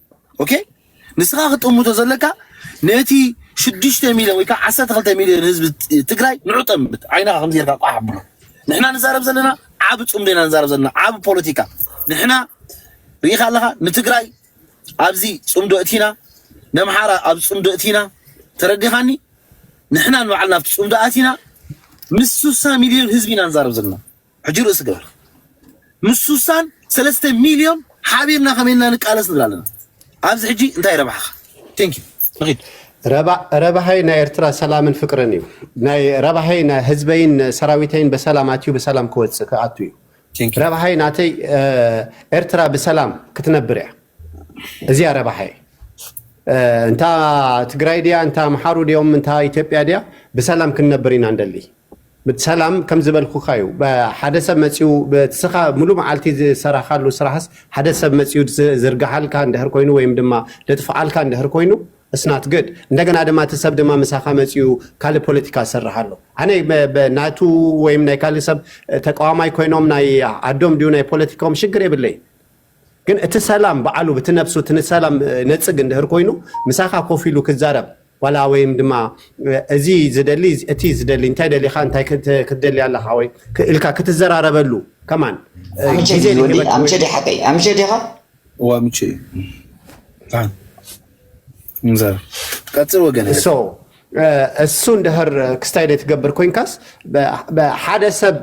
ኦኬ ንስኻ ክጥምቶ ዘለካ ነቲ ሽዱሽተ ሚልዮን ወይ ከዓ ዓሰርተ ክልተ ሚልዮን ህዝቢ ትግራይ ንዑ ጠምት ዓይንኻ ከምዚ ጌርካ ቋሕ ኣብሎ ንሕና ንዛረብ ዘለና ዓብ ፅምዶ ኢና ንዛረብ ዘለና ዓብ ፖለቲካ ንሕና ርኢኻ ኣለኻ ንትግራይ ኣብዚ ፅምዶ እቲና ነምሓራ ኣብ ፅምዶ እቲና ተረዲኻኒ ንሕና ንባዕልና ኣብቲ ፅምዶ ኣቲና ምስ ሱሳ ሚልዮን ህዝቢ ኢና ንዛረብ ዘለና ሕጂ ርእሲ ግበር ምስ ሱሳን ሰለስተ ሚልዮን ሓቢርና ከመይ ኢልና ንቃለስ ንብል ኣለና ኣብዚ ሕጂ እንታይ ረብሓኻ ቴንኪ ንኺድ ረባሃይ ናይ ኤርትራ ሰላምን ፍቅርን እዩ ናይ ረባሃይ ናይ ህዝበይን ሰራዊተይን በሰላም ኣትዩ በሰላም ክወፅእ ክኣቱ እዩ ረባሃይ ናተይ ኤርትራ ብሰላም ክትነብር እያ እዚያ ረባሃይ እንታ ትግራይ ድያ እንታ ኣምሓሩ ድዮም እንታ ኢትዮጵያ ድያ ብሰላም ክንነብር ኢና እንደሊ ሰላም ከም ዝበልኩካ እዩ ሓደ ሰብ መጺኡ ንስኻ ሙሉእ መዓልቲ ዝሰራካሉ ስራህስ ሓደ ሰብ መጺኡ ዝርግሓልካ እንድህር ኮይኑ ወይም ድማ ልጥፍኣልካ እንድህር ኮይኑ It's not good እንደገና ድማ እቲ ሰብ ድማ ምሳካ መጺኡ ካልእ ፖለቲካ ዝሰርሕ ኣሎ ኣነ ናቱ ወይም ናይ ካልእ ሰብ ተቃዋማይ ኮይኖም ናይ ዓዶም ድዩ ናይ ፖለቲኮም ሽግር የብለይን ግን እቲ ሰላም በዓሉ ብቲ ነብሱ እቲ ንሰላም ነጽግ እንድህር ኮይኑ ምሳኻ ኮፍ ኢሉ ክዛረብ ዋላ ወይም ድማ እዚ ዝደሊ እቲ ዝደሊ እንታይ ደሊኻ እንታይ ክትደሊ ኣለኻ ወይ ኢልካ ክትዘራረበሉ ከማን ኣምቸ ጊዜ ድዩ ወዲ ሊህበካ ወይ ኣምቸ ዲ ሓቀይ ኣምቸ ዲኻ ዋምቼ ታ እንዘር ቀጽል ወገን እሶ እሱ እንድህር ክስታይ ደይ ትገብር ኮንካስ በ- በ- ሓደ ሰብ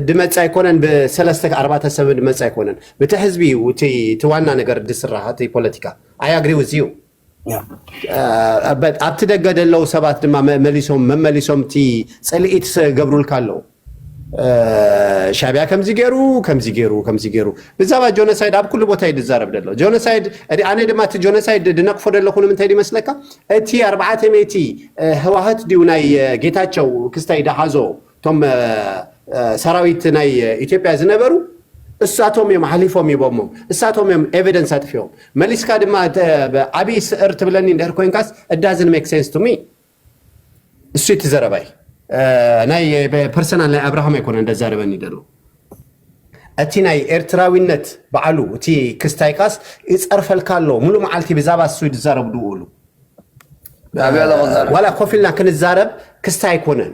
ድመጽ ኣይኮነን ብሰለስተ ኣርባተ ሰብ ድመጽ ኣይኮነን ብቲ ሕዝቢ እዩ እቲ ዋና ነገር ድስራህ እቲ ፖለቲካ ኣይ ኣግሪ ዊዝ ዩ ኣብቲ ደገ ደለው ሰባት ድማ መመሊሶም መመሊሶም እቲ ጽልኢት ገብሩልካ ኣለው ሻቢያ ከምዚ ገይሩ ከምዚ ገይሩ ከምዚ ገይሩ ብዛባ ጆኖሳይድ ኣብ ኩሉ ቦታ እዩ ዝዛረብ ደሎ ጆኖሳይድ ኣነ ድማ እቲ ጆኖሳይድ ድነቅፎ ደለኹ ንምንታይ ይመስለካ እቲ ኣርባዕተ ሜቲ ህዋህት ድዩ ናይ ጌታቸው ክስታይ ድሓዞ እቶም ሰራዊት ናይ ኢትዮጵያ ዝነበሩ እሳቶም እዮም ሓሊፎም ይቦሞ እሳቶም እዮም ኤቪደንስ ኣጥፊኦም መሊስካ ድማ ዓብይ ስዕር ትብለኒ እንድሕር ኮንካስ እዳዝን ሜክ ሴንስ ቱሚ እሱ እቲ ዘረባይ ናይ ፐርሰናል ናይ ኣብርሃም ኣይኮነ እንደዛረበኒ ደሎ እቲ ናይ ኤርትራዊነት በዓሉ እቲ ክስታይካስ ይፀርፈልካ ኣሎ ሙሉ መዓልቲ ብዛባ እሱ ዝዛረቡ ድውሉ ዋላ ኮፍ ኢልና ክንዛረብ ክስታ ኣይኮነን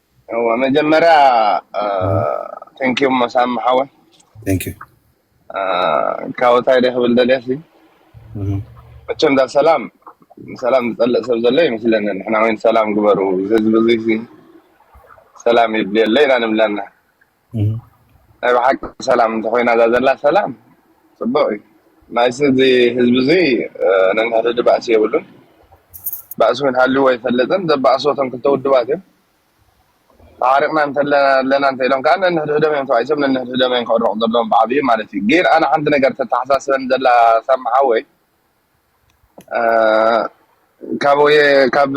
እዋ መጀመርያ ቴንኪው መሳም ሓወይ Thank you. አ፣ ካብ እንታይ ደይ ክብል ደልየሲ Mhm. መቸም ዳ ሰላም ሰላም ዝፀልእ ሰብ ዘሎ ይመስለኒ ንሕና ወይ ሰላም ግበሩ እዚ ህዝቢ እዚ ሰላም ይድልየለ ኢና ንብለና ናይ ብሓቂ ሰላም እንተኮይና እዛ ዘላ ሰላም ፅቡቅ እዩ ናይስ እዚ ህዝቢ እዚ ነንሕድሕዱ ባእሲ የብሉን ባእሲ እውን ሃልዎ ኣይፈለጥን ዘባእሱ እቶም ክልተ ውድባት እዮም ተሓሪቕና እንተለና ኣለና እንተ ኢሎም ከዓ ነንሕድሕዶም እዮም ተባኢሶም ነንሕድሕዶም እዮም ክዕረቑ ዘለዎም ብዓብዩ ማለት እዩ ግን ኣነ ሓንቲ ነገር ተተሓሳስበን ዘላ ሳምሓወይ ካብ ወየ ካብ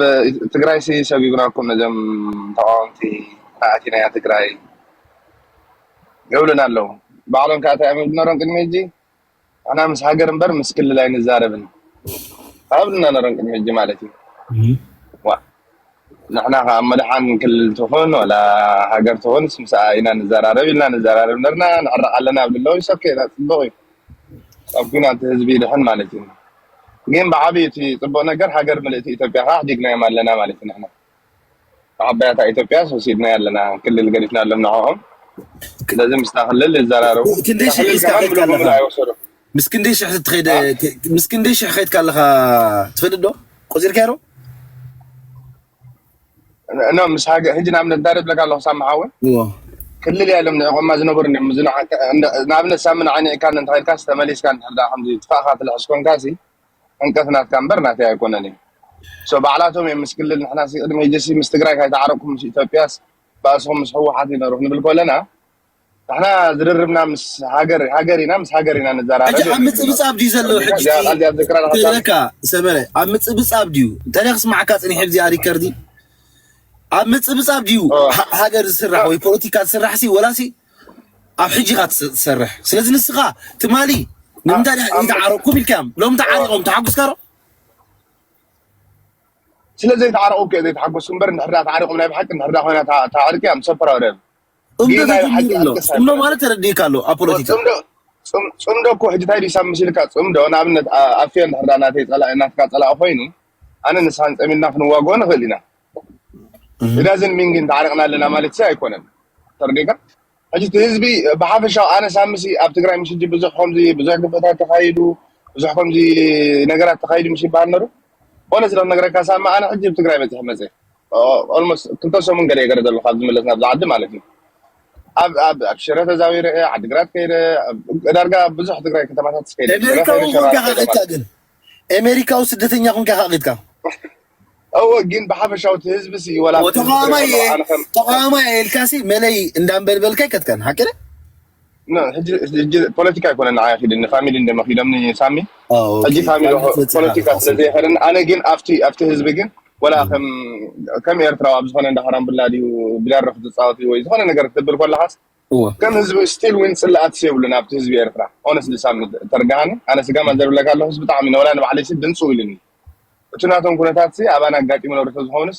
ትግራይ ሲ ሰብ ይብራኩም ነዞም ተቃወምቲ ካኣ ኣቲናያ ትግራይ ይብሉና ኣለዉ ባዕሎም ካኣ ታይ እዮም ነሮም ቅድሚ ሕጂ ንሕና ምስ ሃገር እምበር ምስ ክልል ኣይንዛረብን ኣይብሉና ነሮም ቅድሚ ሕጂ ማለት እዩ ዋእ ንሕና ከኣ መድሓን ክልል ትኹን ዋላ ሃገር ትኹንስ ምስኣ ኢና ንዘራረብ ኢልና ንዘራረብ ነርና ንዕረቕ ኣለና ኣብ ልለዉ ኢትስ ኦኬ ዳት ጽቡቕ እዩ ካብ ኩናት ህዝቢ ይድሕን ማለት እዩ ግን ብዓብዩ እቲ ጽቡቕ ነገር ሃገር ምልእቲ ኢትዮጵያ ከኣ ኣሕዲግናዮም ኣለና ማለት እዩ ንሕና ዓባያታ ኢትዮጵያስ ወሲድናያ ኣለና ክልል ገዲፍናሎም ንዕኦም ስለዚ ምስታ ክልል ይዘራረቡ እታ ክንዲሽን ክልል ሒዝካ ከማን ከይድካ ብልጉምላ ኣለኻ ኣይወሰዱ ምስ ክንደይ ሽሕ ትኸይደ ምስ ክንደይ ሽሕ ከይድካ ኣለኻ ትፈልጥ ዶ ቆፂርካ ዶ ኖ ምስ ሃገር ሕጂ ንኣብነት እንታይ ደብለካ ኣለኹ ሳሚ ሓወ ክልል እያ ኢሎም ንዕቆማ ዝነበሩ እዮም እዚ ንኣብነት ሳሚ ንዓይ ንዕካ እንተኸይድካ ተመሊስካ እንድሕር ድኣ ከምዚ ትፋእካ ትልሕስ ኮንካ ሲ ዕንቀት ናትካ እምበር ናተይ ኣይኮነን እዩ ሶ ባዕላቶም እዮም ምስ ክልል ንሕና ሲ ቅድሚ ሕጂ ሲ ምስ ትግራይ ካይተዓረቅኩም ምስ ኢትዮጵያስ ባእስኹም ምስ ህወሓት እዩ ነሩ ክንብል ከለና ንሕና ዝርርብና ምስ ሃገር ሃገር ኢና ምስ ሃገር ኢና ንዘራረብ ሕጂ ኣብ ምጽብጻብ ድዩ ዘሎ ሕጂ ትብለካ ሰመረ ኣብ ምጽብጻብ ድዩ እንተ ክስማዓካ ጽኒሐ ብዚኣ ሪከርዲ ኣብ ምጽብጻብ ድዩ ሃገር ዝስራሕ ወይ ፖለቲካ ዝስራሕ ሲ ወላ ሲ ኣብ ሕጂ ኢኻ ትሰርሕ ስለዚ ንስኻ ትማሊ ንምንታይ ይትዓረኩም ኢልካዮም ሎም ተዓሪቖም ተሓጉስካ ዶ ስለዘይተዓረቑ ከ ዘይተሓጎስኩ እምበር ንሕዳ ተዓሪቖም ናይ ብሓቂ ንሕዳ ኮይና ተዕርቂ እያ ምሰ ፕራውደን ጽምዶ ጌጋ እዩ ሓቂ ተጀሚሩ'ሎ። ኣልቀስ ጽምዶ ኣይኮነን ማለት ተረዲእካ ኣሎ ኣብ ኦ ፖለቲካ። ጽምዶ ጽም- ጽምዶ እኮ ሕጂ እንታይ ድዩ ሳብ መሲልካ ጽምዶ ንኣብነት ኣ- ኣፌ እንድሕር ዳ ናተይ ጸላኢ ናትካ ጸላኢ ኮይኑ ኣነ ንስኻን ጸሚድና ክንዋግኦ ንኽእል ኢና እህ። ኢዳዝን ሚን ግን ተዓሪቕና ኣለና ማለት ሲ ኣይኮነን ተረዲእካ ሕጂ እቲ ህዝቢ ብሓፈሻው ኣነ ሳምሲ ኣብ ትግራይ ምስ ሕጂ ብዙሕ ከምዚ ብዙሕ ግፍዕታት ተኻይዱ ብዙሕ ከምዚ ነገራት ተኻይዱ ምስ ይበሃል ነሩ ኦነስ ዶ ክነግረካ ሳሚ ኣነ ሕጂ ኣብ ትግራይ በፂሐ መፀ ኦልሞስት ክልተ ሰሙን ገለ ገለ ዘሎ ካብ ዝምለስ ናብዛ ዓዲ ማለት እዩ ኣብ ኣብ ኣብ ሽረ ተዛዊረ እየ ዓዲግራት ከይደ ዳርጋ ኣብ ብዙሕ ትግራይ ከተማታት ከይደ ሽረ ኤሜሪካ ከይደ እውን ሸራሮ ኮንካ ከይደ ካቂድካ ማለት ግን ኤሜሪካዊ ስደተኛ ኮንካ ካቂድካ እወ ግን ብሓፈሻዊ እቲ ህዝቢ ሲ ወላ ኣብቲ ዝዝረብ ተቃዋማይ ዘሎ እየ ኣነ ከም ተቃዋማይ እየ ኢልካሲ መለይ እንዳንበልበልካ ኣይከትካን ሓቂ ድዩ ን ሕጂ ሕጂ ፖለቲካ ኣይኮነን ንዓይ ኣኺድኒ ፋሚሊ እንደ መኺዶምኒ ሳሚ ኣዎ ኦኬ ሕጂ ፋሚሊ ካልእ ኾ- ፈጺኻ ፖለቲካ ስለ ከታስምረኒ ዘየኸደኒ ኣነ ግን ኣብቲ ኣብቲ ህዝቢ ግን ወላ ከም ከም ኤርትራዊ ኣብ ዝኾነ እንዳ ካራምብላ ድዩ ብደርኽ ዝጻወት እዩ ወይ ዝኾነ ነገር ክትብል ኮለኻስ እወ ከም ህዝቢ ስቲል ዊን ጽላኣትስ የብሉን ኣብቲ ህዝቢ ኤርትራ ኦነስትሊ ሳሚ ተርዳሃኒ ኣነ ስጋማ እም፣ ዘርብለካ ኣለኹስ ብጣዕሚ ንወላ ንባዕለይሲ ድንጽው ኢሉኒ እቲ ናቶም ኩነታትሲ ኣባና ኣጋጢሙ ነብርቶ ዝኸውንስ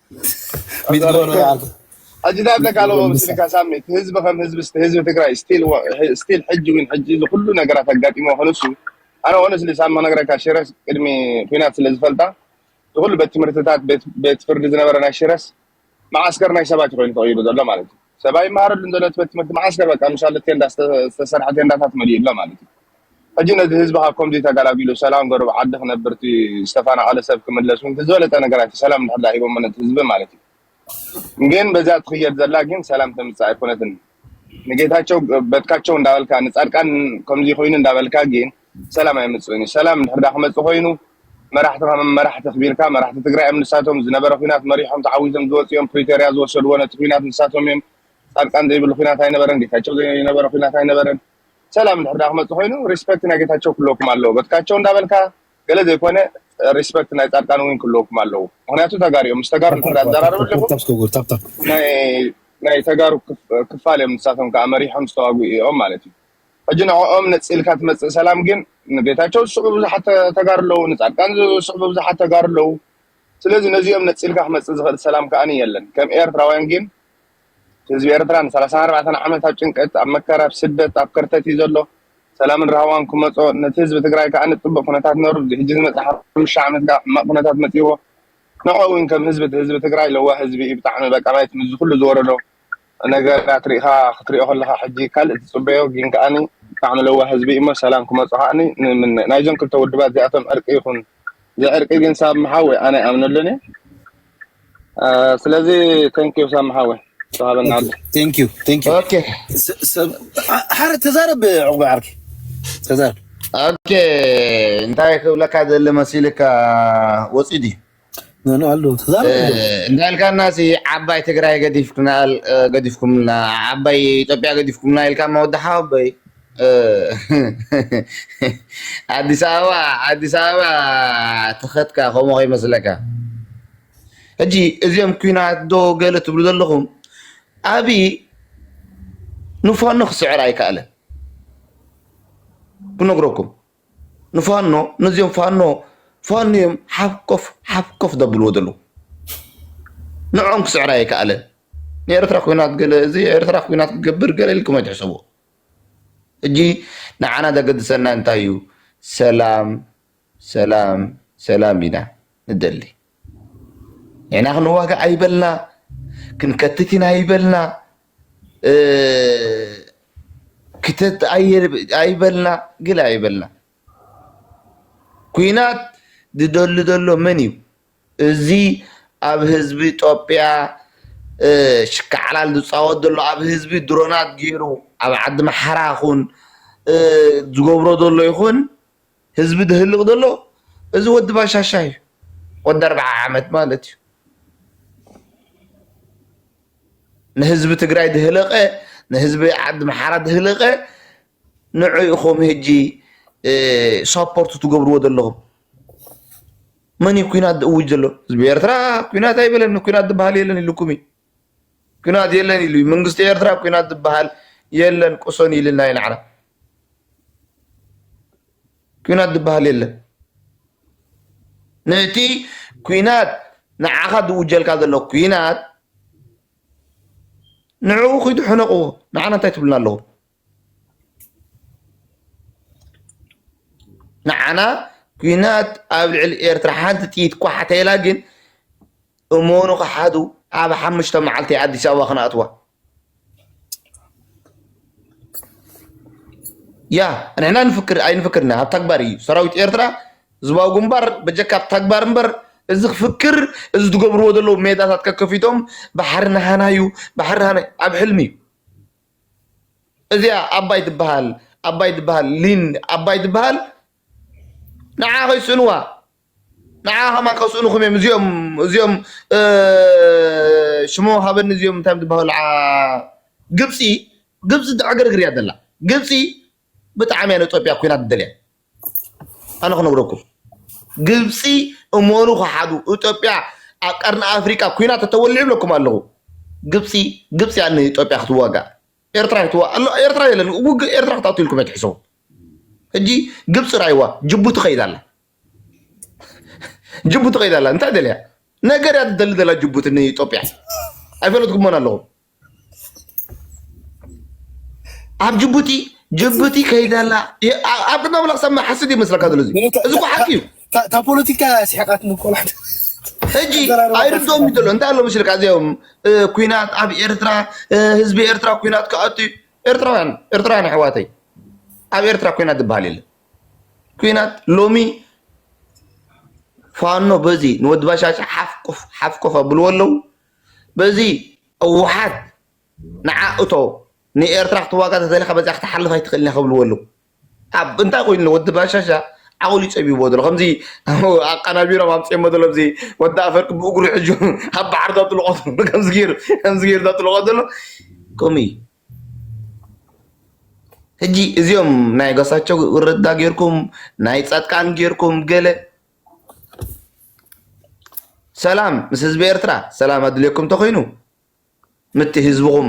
ሕጅታት ለካለ ምስልካ ሳሚት ህዝቢ ከም ህዝቢ ስቲ ህዝቢ ትግራይ ስቲል ስቲል ሕጂ ዊን ሕጂ ዝኩሉ ነገራት ኣጋጢሞ ክንሱ ኣነ ኦነስሊ ሳሚ ክነግረካ ሽረስ ቅድሚ ኩናት ስለ ዝፈልጣ ዝኩሉ ቤት ትምህርትታት ቤት ፍርዲ ዝነበረ ናይ ሽረስ መዓስከር ናይ ሰባት ኮይኑ ተቀይሩ ዘሎ ማለት እዩ ሰብ ኣይመሃረሉን ዘሎ እቲ ቤት ትምህርቲ መዓስከ በቃ ምሳሌ ቴንዳ ዝተሰርሐ ቴንዳታት መሊኡ ኣሎ ማለት እዩ ሕጂ ነዚ ህዝቢ ካብ ከምዚ ተገላጊሉ ሰላም ገሩ ኣብ ዓዲ ክነብር እቲ ዝተፈናቐለ ሰብ ክምለስ እውን እቲ ዝበለፀ ነገራት እዩ ሰላም እንድሕር ድኣ ሂቦሞ ነቲ ህዝቢ ማለት እዩ ግን በዚኣ ትኽየድ ዘላ ግን ሰላም ተምፅእ ኣይኮነትን ንጌታቸው በትካቸው እንዳበልካ ንፃድቃን ከምዚ ኮይኑ እንዳበልካ ግን ሰላም ኣይምፅእን እዩ ሰላም እንድሕር ድኣ ክመፅእ ኮይኑ መራሕቲ ከም መራሕቲ ክቢርካ መራሕቲ ትግራይ እዮም ንሳቶም ዝነበረ ኩናት መሪሖም ተዓዊቶም ዝወፁ እዮም ፕሪቶርያ ዝወሰድዎ ነቲ ኩናት ንሳቶም እዮም ፃድቃን ዘይብሉ ኩናት ኣይነበረን ጌታቸው ዘይነበረ ኩናት ኣይነበረን ሰላም እንድሕር ድኣ ክመፅእ ኮይኑ ሪስፐክት ናይ ጌታቸው ክለኩም ኣለዎ በትካቸው እንዳበልካ ገለ ዘይኮነ ሪስፐክት ናይ ፃድቃን እውን ክለኩም ኣለዎ ምክንያቱ ተጋሩ እዮም ምስ ተጋሩ እንድሕር ድኣ ትዘራረብ ኣለኹም ናይ ተጋሩ ክፋል እዮም ንሳቶም ከዓ መሪሖም ዝተዋግኡ እዮም ማለት እዩ ሕጂ ንዕኦም ነጺልካ ትመጽእ ሰላም ግን ንጌታቸው ዝስዕቡ ብዙሓት ተጋሩ ኣለዉ ንጻድቃን ዝስዕቡ ብዙሓት ተጋሩ ኣለዉ ስለዚ ነዚኦም ነጺልካ ክመጽእ ዝኽእል ሰላም ከኣ የለን ከም ኤርትራውያን ግን እቲ ህዝቢ ኤርትራ ንሰላሳን ኣርባዕተን ዓመት ኣብ ጭንቀት ኣብ መከራ ኣብ ስደት ኣብ ከርተት እዩ ዘሎ ሰላምን ራህዋን ክመጾ ነቲ ህዝቢ ትግራይ ከኣ ንጽቡቅ ኩነታት ነሩ እዚ ሕጂ ዝመጽእ ሓሙሽተ ዓመት ከኣ ሕማቅ ኩነታት መጺዎ ንዕኡ እውን ከም ህዝቢ ህዝቢ ትግራይ ለዋህ ህዝቢ እዩ ብጣዕሚ በቃ ማየት ምስዚ ኩሉ ዝወረዶ ነገራት ሪኢኻ ክትሪኦ ከለኻ ሕጂ ካልእ ትጽበዮ ጊን ከኣኒ ብጣዕሚ ለዋህ ህዝቢ እዩሞ ሰላም ክመጹ ከኣኒ ንምነ ናይዞም ክልተ ውድባት እዚኣቶም ዕርቂ ይኹን ዘይዕርቂ ጊን ሳሚ ሓወይ ኣነ ኣይኣምነሉን እየ ስለዚ thank you ሳሚ ሓወይ ተሃበና ኣቢ thank you thank you ኦኬ ሓረ ተዛረብ ዕቁበ ዓርኪ ተዛረብ ኦኬ እንታይ ክብለካ ደሊ መሲልካ ወጺኡ ድዩ እንዳልካና ሲ ዓባይ ትግራይ ገዲፍኩምልና ዓባይ ኢትዮጵያ ገዲፍኩምና ኢልካ መወዲ ሓወበይ ኣዲስ ኣበባ ኣዲስ ኣበባ ተኸትካ ከምኡ ከይመስለካ ሕጂ እዚኦም ኩናት ዶ ገለ ትብሉ ዘለኹም ኣብዪ ንፋኖ ክስዕር ኣይከኣለን ክነግረኩም ንፋኖ ነዚኦም ፋኖ ፋኖ እዮም ሓፍኮፍ ሓፍኮፍ ዘብልዎ ዘለዉ ንዕኦም ክስዕር ኣይከኣለን ንኤርትራ ኩናት ገለ እዚ ኤርትራ ኩናት ክገብር ገለ ኢልኩም ኣይትሕሰቡ ሕጂ ንዓና ዘገድሰና እንታይ እዩ ሰላም ሰላም ሰላም ኢና ንደሊ ንሕና ክንዋጋእ ኣይበልና ክንከትት ኢና ኣይበልና ክተት ኣይበልና ግለ ኣይበልና ኩናት ዝደሊ ዘሎ መን እዩ? እዚ ኣብ ህዝቢ ኢትዮጵያ ሽካዕላል ዝፃወት ዘሎ ኣብ ህዝቢ ድሮናት ገይሩ ኣብ ዓዲ ኣምሓራ ይኹን ዝገብሮ ዘሎ ይኹን ህዝቢ ድህልቅ ዘሎ እዚ ወዲ ባሻሻ እዩ ወዲ ኣርብዓ ዓመት ማለት እዩ ንህዝቢ ትግራይ ድህለቀ ንህዝቢ ዓዲ ምሓራ ድህለቀ ንዑ ኢኹም ህጂ ሰፖርት ትገብርዎ ዘለኹም መን እዩ ኩናት ዝእውጅ ዘሎ ህዝቢ ኤርትራ ኩናት ኣይበለን ኩናት ዝበሃል የለን ኢልኩም እዩ ኩናት የለን ኢሉ እዩ መንግስቲ ኤርትራ ኩናት ዝበሃል የለን ቁሰኑ ኢልና ኢና ዓና ኩናት ዝበሃል የለን ነቲ ኩናት ንዓኻ ዝውጀልካ ዘሎ ኩናት ንዕኡ ኪዱ ሕነቕዎ ንዓና እንታይ ትብልና ኣለኹም ንዓና ኩናት ኣብ ልዕሊ ኤርትራ ሓንቲ ጥይት ኳሕ ተኢላ ግን እመኑ ክሓዱ ኣብ ሓሙሽተ መዓልቲ ኣዲስ ኣበባ ክንኣትዋ ያ ንሕና ንፍክር ኣይንፍክርና ኣብ ተግባር እዩ ሰራዊት ኤርትራ ህዝባዊ ግንባር በጀካ ኣብ ተግባር እምበር እዚ ክፍክር እዚ ትገብርዎ ዘለዉ ሜዳታት ከከፊቶም ባሕሪ ናሃና እዩ ባሕሪ ናሃና እዩ ኣብ ሕልሚ እዩ እዚኣ ኣባይ ትበሃል ኣባይ ትበሃል ሊን ኣባይ ትበሃል ንዓ ከይስእንዋ ንዓ ከማን ከስእንኹም እዮም እዚኦም እዚኦም ሽሞ ሃበኒ እዚኦም እንታይ ትበሃሉ ግብፂ ግብፂ ትዕግርግር እያ ዘላ ግብፂ ብጣዕሚ እያ ንኢትዮጵያ ኩናት ትደልያ ኣነ ክነግረኩም ግብፂ እመኑ ክሓዱ ኢትዮጵያ ኣብ ቀርኒ ኣፍሪቃ ኩናት ተተወልዑ ይብለኩም ኣለኹ ግብፂ ግብፂ እያ ንኢትዮጵያ ክትዋጋእ ኤርትራ ክትዋእ ኣሎ ኤርትራ የለን ውግእ ኤርትራ ክትኣቱ ኢልኩም እያ ትሕሰቡ ሕጂ ግብፂ ራይዋ ጅቡቲ ከይዳ ኣላ ጅቡቲ ከይዳ ኣላ እንታይ ደልያ ነገር እያ ትደሊ ዘላ ጅቡቲ ንኢትዮጵያ ኣይፈለጥኩሞን ኣለኹም ኣብ ጅቡቲ ጅቡቲ ከይደ ኣላ ኣብ ቅድመ ኣምላኽ ሰብ ሓስድ ይመስለካ ዘሎ እዚ እዚ እኮ ሓቂ እዩ እታ ፖለቲካ ስሕቃት ንቆልዓ ሕጂ ኣይርድኦም እዩ ዘሎ እንታይ ኣሎ መስልካ እዚኦም ኩናት ኣብ ኤርትራ ህዝቢ ኤርትራ ኩናት ክኣቱ እዩ ኤርትራውያን ኤርትራውያን ኣሕዋተይ ኣብ ኤርትራ ኩናት ዝበሃል የለን ኩናት ሎሚ ፋኖ በዚ ንወዲ ባሻሻ ሓፍቁፍ ሓፍቁፍ ኣብልዎ ኣለዉ በዚ ህወሓት ንዓ እቶ ንኤርትራ ክትዋጋ ተደሊኻ በዚኣ ክትሓልፍ ኣይትኽእልን ኢያ ክብልዎ ኣለዉ። ኣብ እንታይ ኮይኑ ኣሎ ወዲ ባሻሻ ዓቕሉ ጸቢብዎ ዘሎ ከምዚ ኣቀናቢሮም ኣምጺኦሞ ዘሎ እዚ ወዲ ኣፈርቂ ብእግሩ ሕጁ ኣብ ባሕሪ ዘጥልቖ ዘሎ ከምዚ ገይሩ ከምዚ ገይሩ ዘጥልቖ ዘሎ ከምኡ እዩ። ሕጂ እዚኦም ናይ ገሳቸው ረዳ ጌርኩም ናይ ጻድቃን ጌርኩም ገለ ሰላም ምስ ህዝቢ ኤርትራ ሰላም ኣድልየኩም እንተኮይኑ ምቲ ህዝብኹም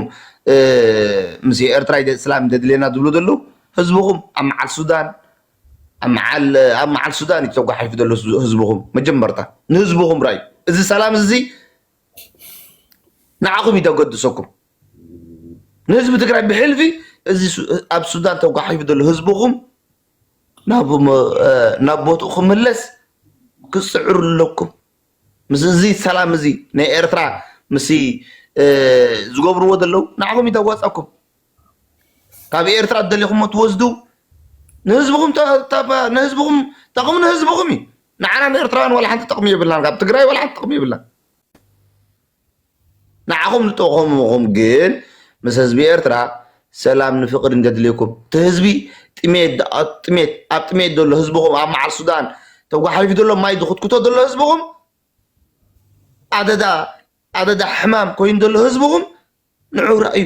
ምስ ኤርትራ ስላም ደድልየና ዝብሉ ዘለዉ ህዝብኹም ኣብ መዓል ሱዳን ኣብ መዓል ሱዳን እዩ ተጓሒፉ ዘሎ ህዝብኹም መጀመርታ ንህዝብኹም ራዩ እዚ ሰላም እዚ ንዓኹም እዩ ተገድሰኩም ንህዝቢ ትግራይ ብሕልፊ እዚ ኣብ ሱዳን ተጓሒፉ ዘሎ ህዝብኹም ናብ ቦትኡ ክምለስ ክትፅዕሩ ኣለኩም። ምስ እዚ ሰላም እዚ ናይ ኤርትራ ምስ ዝገብርዎ ዘለዉ ንዓኹም እዩ ዘዋፅኣኩም። ካብ ኤርትራ ዝደለኹሞ ትወስዱ ንህዝብኹም ንህዝብኹም ጠቕሚ ንህዝብኹም እዩ። ንዓና ንኤርትራውያን ዋላ ሓንቲ ጥቕሚ የብልናን። ካብ ትግራይ ዋላ ሓንቲ ጥቕሚ የብልናን። ንዓኹም ዝጠቆምኹም ግን ምስ ህዝቢ ኤርትራ ሰላም ን ፍቅርን ዘድልየኩም እቲ ህዝቢ ጥሜት ኣብ ጥሜት ዘሎ ህዝብኹም ኣብ መዓል ሱዳን ተጓሓፊፉ ዘሎ ማይ ዝኹትኩቶ ዘሎ ህዝብኹም ኣደዳ ኣደዳ ሕማም ኮይኑ ዘሎ ህዝብኹም ንዑ ረኣዩ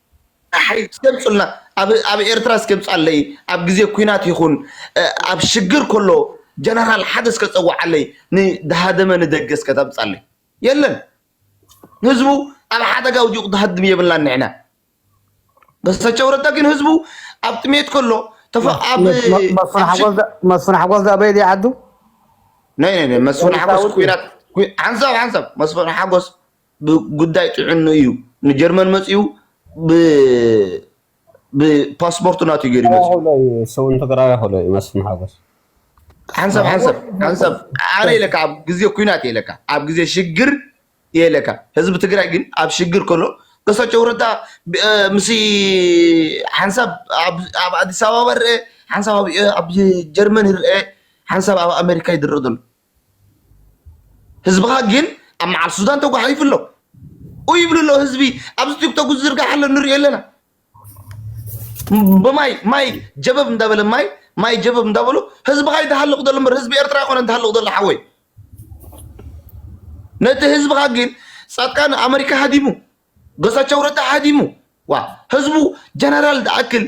ዳሕሪ እስኪ ኣምፁልና ኣብ ኣብ ኤርትራ እስኪ ኣምፅኣለይ ኣብ ግዜ ኩናት ይኹን እ፣ ኣብ ሽግር ከሎ ጀነራል ሓደ እስከ ፀዋዓለይ ንዳሃደመ ንደገ እስከ ተምፃለይ የለን ህዝቡ ኣብ ሓደጋ ውዲቑ ዝሃድም የብልናን ንሕና በሰቸው ረዳ ግን ህዝቡ ኣብ ጥሜት ከሎ ተፈ ኣብ መስ- መ- መስፍን ኣብ ሓጎስ ሽግ ዳ- መስፍን ሓጎስ ዳኣ በየድ ይዓዱ ናይ ናይ ናይ መስፍን ሓጎስ ፖሊሳውቲ ኩናት ኩ- ሓንሳብ ሓንሳብ መስፍን ሓጎስ ብጉዳይ ጥዕንኡ እዩ ንጀርመን መፂኡ ብፓስፖርቱ ናቱ እዩ ገይሩ ይመፅኡ ያሆሎ እዩ ሰውን ትግራይ ያሆሎ እዩ መስፍን ሓጎስ ሓንሳብ ሓንሳብ ሓንሳብ ኣነ ኢለካ ኣብ ግዜ ኩናት እየ ኢለካ ኣብ ግዜ ሽግር እየ ኢለካ ህዝቢ ትግራይ ግን ኣብ ሽግር ከሎ እሳቸው ረዳ ብ- እ፣ ምስ ሓንሳብ ኣብ ኣብ ኣዲስ ኣበባ ይርአ ሓንሳብ ኣብ ኣብ ጀርመን ይርአ ሓንሳብ ኣብ ኣሜሪካ ይድረእ ዘሎ ህዝብኻ ግን ኣብ መዓል ሱዳን ተጓሒፉ ኣሎ ኡ ይብሉ ኣሎ ህዝቢ ኣብዚ ቲክቶክ ዝዝርጋሕ ኣሎ ንሪኦ ኣለና ብማይ ማይ ጀበብ እንዳበለ ማይ ማይ ጀበብ እንዳበሉ ህዝብኻ ይተሃልቕ ዘሎ እምበር ህዝቢ ኤርትራ ይኮነ ተሃልቕ ዘሎ ሓወይ ነቲ ህዝብኻ ግን ጻድቃን ኣመሪካ ሃዲሙ ገሳቸው ረዳ ሃዲሙ ዋ ህዝቡ ጀነራል ዝኣክል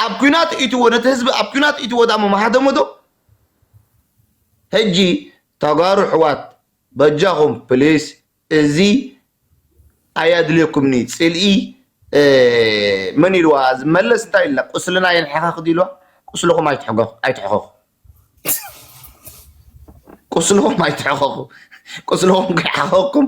ኣብ ኩናት ኢትዎ ነቲ ህዝቢ ኣብ ኩናት ኢትዎ ዳሞ መሃደሞ ዶ ሕጂ ተጋሩ ኣሕዋት በጃኹም ፕሊስ እዚ ኣያድልየኩምኒ ፅልኢ መን ኢልዋ እዚ መለስ እንታይ ኢሉና ቁስልና የንሕክክ ድዩ ኢልዋ ቁስልኹም ኣይትሕከኹ ቁስልኹም ኣይትሕከኹ ቁስልኹም ከይሓኸኩም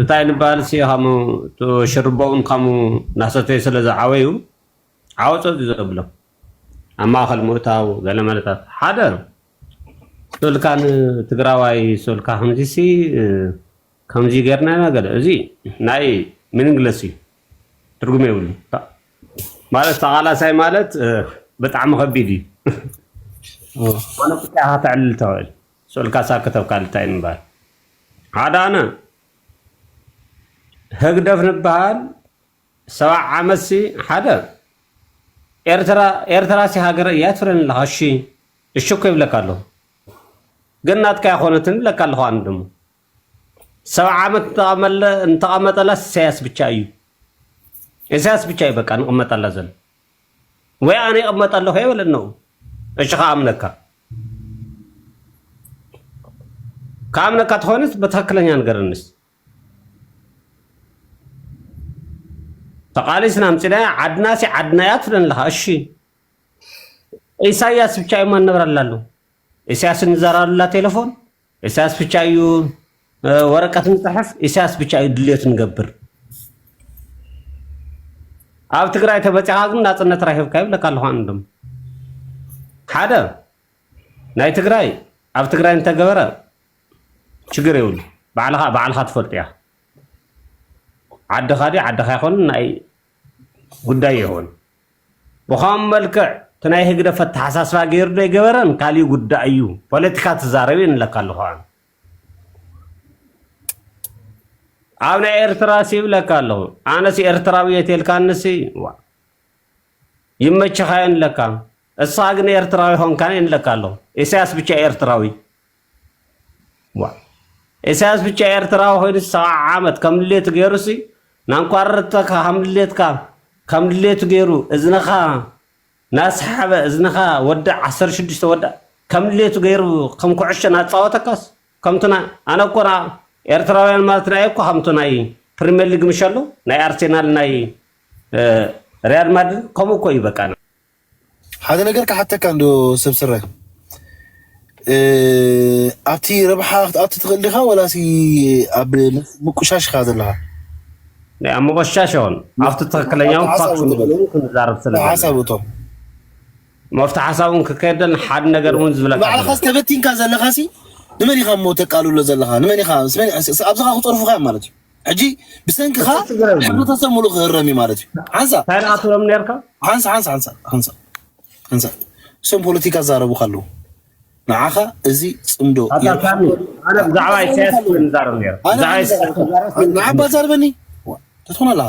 እንታይ ንበሃል ሲ ካሙ ሽርቦኡን ካሙ ናሰተዩ ስለ ዝዓበዩ ዓወፀት እዩ ዘብሎም ኣብ ማእኸል ምእታው ገለ መለታት ሓደ ሶልካ ንትግራዋይ ሶልካ ከምዚ ሲ ከምዚ ገርና ኢና ገለ እዚ ናይ ምንግለስ እዩ ትርጉም የብሉ ማለት ተቓላሳይ ማለት ብጣዕሚ ከቢድ እዩ ፖለቲካ ከተዕልል ተኽእል ሶልካስ ኣከተብካ ልታይ ምባል ኣዳነ ህግደፍ ንበሃል ሰባዕ ዓመት ሲ ሓደ ኤርትራ ኤርትራ ሲ ሃገረ እያ ትፍረን ኣለኻ እሺ እሺ እኮ ይብለካ ኣለኹ ግን ናትካ ኣይኮነትን ይብለካ ኣለኹ ኣነ ደሞ ሰባዕ ዓመት እንተቐመለ እንተቐመጠላ ኢሳያስ ብቻ እዩ ኢሳያስ ብቻ እዩ በቃ ንቕመጠላ ዘሎ ወይ ኣነ ይቕመጥ ኣለኹ እየ በለኒ ንኡ እሺ ክኣምነካ ክኣምነካ ተኾይኑስ ብትኽክለኛ ንገረኒስ ተቃሊስና ምፅናያ ዓድና ሲ ዓድና እያ ትብለን ኣለካ እሺ ኢሳያስ ብቻ እዩ ማነብራላሉ ኢሳያስ እንዘራሉላ ቴሌፎን ኢሳያስ ብቻ እዩ ወረቀት ንፅሕፍ ኢሳያስ ብቻ እዩ ድልዮት ንገብር ኣብ ትግራይ ተበፂኻ ግን ናፅነት ራሂብካ ይብለካ ኣለኹ ኣነ ድማ ሓደ ናይ ትግራይ ኣብ ትግራይ እንተገበረ ችግር የብሉ ባዕልኻ ባዕልኻ ትፈልጡ እያ ዓድኻ ድዩ ዓድኻ ይኾን ናይ ጉዳይ ይኸውን ብኸም መልክዕ እቲ ናይ ህግደፍ ኣተሓሳስባ ገይሩ ዶ ኣይገበረን ካሊእ ጉዳይ እዩ ፖለቲካ ትዛረብ እየ ንብለካ ኣለኹ ኣነ ኣብ ናይ ኤርትራ ሲ ይብለካ ኣለኹ ኣነስ ኤርትራዊ እየ ተልካኒ ሲ ዋ ይመችኻ እየ ንብለካ እስኻ ግን ኤርትራዊ ኾንካን እየ ንብለካ ኣለኹ ኢሳያስ ብቻ እዩ ኤርትራዊ ዋእ ኢሳያስ ብቻ ኤርትራዊ ኮይኑ ሰብዓ ዓመት ከም ድሌቱ ገይሩ ሲ ናንኳርርተካ ከም ድሌትካ ከም ድሌቱ ገይሩ እዝንኻ ናስሓበ እዝንኻ ወዲ ዓሰርተ ሽዱሽተ ወዲ ከም ድሌቱ ገይሩ ከም ኩዕሾ ናጻወተካስ ከምቱና ኣነ እኮ ና ኤርትራውያን ማለት ናይ እኮ ከምቱ ናይ ፕሪሚየር ሊግ ምሸሎ ናይ ኣርሴናል ናይ እ፣ ሪያል ማድሪድ ከምኡ እኮ እዩ በቃ ሓደ ነገር ክሓተካ እንዶ ሰብ ስረ ኣብቲ ረብሓ ክትኣቱ ትኽእል ዲኻ ወላሲ ኣብ ምቁሻሽ ኢኻ ዘለኻ? ናይ ኣብ ምቁሻሽ ይኹን ኣብቲ ትኽክለኛውን ፋክት ክንዛረብ ስለ ሓሳብ እቶ መፍቲ ሓሳብ እውን ክከየደን ሓደ ነገር እውን ዝብለካ ባዕልኻስ ተበቲንካ ዘለኻሲ ንመን ኢኻ እሞ ተቃልሎ ዘለኻ ንመን ኢኻ ኣብዝኻ ክፀርፉኻ ማለት እዩ ሕጂ ብሰንክኻ ሕብረተሰብ ሙሉእ ክህረም እዩ ማለት እዩ። ሓንሳ ታይናኣትሎም ነርካ ሓንሳ ሓንሳ ሓንሳ ሓንሳ ሓንሳ እሶም ፖለቲካ ዛረቡካ ኣለዉ ንዓኻ እዚ ፅምዶ ብዛዕባ ኢሳያስ ንዛረብ ነር ንዓባ ዛርበኒ ትኾነ ኣለኻ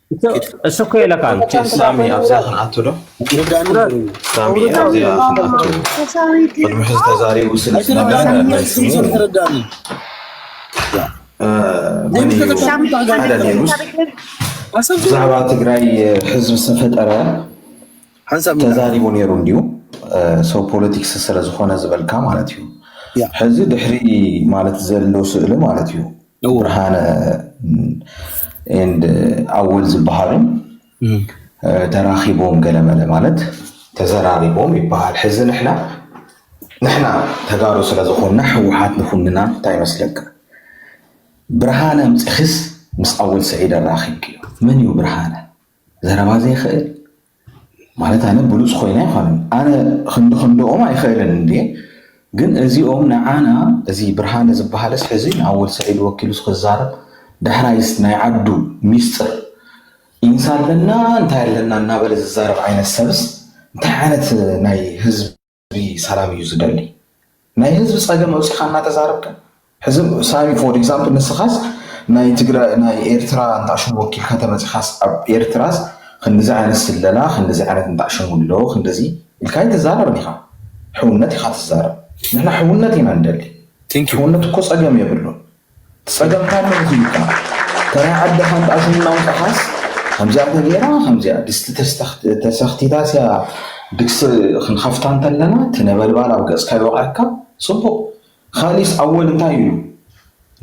እሱ እኮ ይለካል ሳሚ ኣብዚኣ ክንኣቱ ዶ ሳሚ ኣብዚኣ ክንኣቱ ቅድሚ ሕዚ ተዛሪቡ ስለ ዝነበረ ብዛዕባ ትግራይ ሕዝቢ ዝተፈጠረ ተዛሪቡ ነይሩ እንዲዩ ሰው ፖለቲክስ ስለዝኾነ ዝበልካ ማለት እዩ ሕዚ ድሕሪ ማለት ዘሎ ስእሊ ማለት እዩ ብርሃነ ኤንድ ኣወል ዝበሃሉ ተራኺቦም ገለመለ ማለት ተዘራሪቦም ይበሃል። ሕዚ ንሕና ንሕና ተጋሩ ስለ ዝኾንና ህወሓት ንኹንና እንታይ ይመስለካ? ብርሃነ ኣምፂኽስ ምስ ኣወል ስዒድ ኣራኺብክዮ። መን እዩ ብርሃነ? ዘረባ ዘይኽእል ማለት ኣነ ብሉጽ ኮይነ ኣይኮነን ኣነ ክንዲ ክንድኦም ኣይክእልን እንዴ ግን እዚኦም ንዓና እዚ ብርሃነ ዝበሃልስ ሕዚ ንኣወል ስዒድ ወኪሉስ ክዛረብ ዳሕራይስ ናይ ዓዱ ሚስጥር ኢንሳ ኣለና እንታይ ኣለና እናበለ ዝዛረብ ዓይነት ሰብስ እንታይ ዓይነት ናይ ህዝቢ ህዝቢ ሰላም እዩ ዝደሊ ናይ ህዝቢ ፀገም ኣውፂኻ እናተዛረብካ ሕዚ ሳሚ ፎር ኤግዛምፕል ንስኻስ ናይ ትግራይ ናይ ኤርትራ እንታሽሙ ወኪልካ ተመፂኻስ ኣብ ኤርትራስ ክንድዚ ዓይነት ስለላ ክንድዚ ዓይነት እንታሽሙ ኣሎ ክንደዚ ኢልካ ኣይትዛረብን ኢኻ ሕውነት ኢኻ ትዛረብ ንሕና ሕውነት ኢና ንደሊ ሕውነት እኮ ፀገም የብሉን ጸገም ካሎ እዚ እዩ እባ ተራይ ዓድኻ እንዳ ዝምናው ጠሓስ ከምዚኣ ተገይራ ከምዚኣ ድስቲ ተሰኽቲታስ እያ ድግሲ ክንኸፍታ እንተለና እቲ ነበልባል ኣብ ገጽካ ይወቕዐካ ጽቡቕ ኻሊስ ኣወል እንታይ እዩ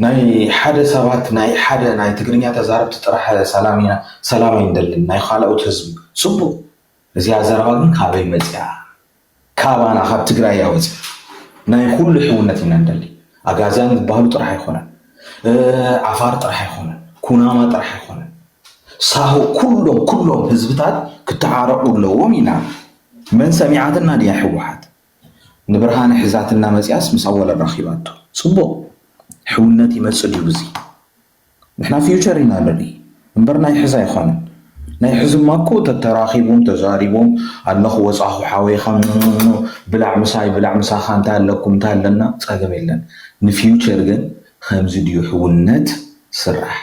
ናይ ሓደ ሰባት ናይ ሓደ ናይ ትግርኛ ተዛረብቲ ጥራሕ ሰላም ኢና ሰላም ኣይንደልን ናይ ኻልኦት ህዝቢ ጽቡቕ እዚኣ ዘረባ ግን ካበይ መጺኣ ካባና ካብ ትግራያ ወፂኡ ናይ ኹሉ ሕውነት ኢና ንደሊ። ኣጋዚያን ዝበሃሉ ጥራሕ ኣይኾነን፣ ዓፋር ጥራሕ ኣይኾነን፣ ኩናማ ጥራሕ ኣይኾነን፣ ሳሆ ኩሎም ኩሎም ህዝብታት ክተዓረቑ ኣለዎም ኢና። መን ሰሚዓትና ድያ ህወሓት? ንብርሃነ ሒዛትና መፂኣስ ምስ ኣወል ኣራኺባቶ። ፅቡቕ! ሕውነት ይመፅእ ድዩ ብዙይ? ንሕና ፊውቸር ኢና ንርኢ እምበር ናይ ሕዚ ኣይኮነን ናይ ሕዚማ እኮ ተተራኺቦም ተዛሪቦም ኣለኹ ወጻኹ ሓወይ ኻምምምም ብላዕ ምሳይ ብላዕ ምሳኻ እንታይ ኣለኩም እንታይ ኣለና ጸገም የለን ንፊውቸር ግን ኸምዚ ድዩ ሕውነት ስራሕ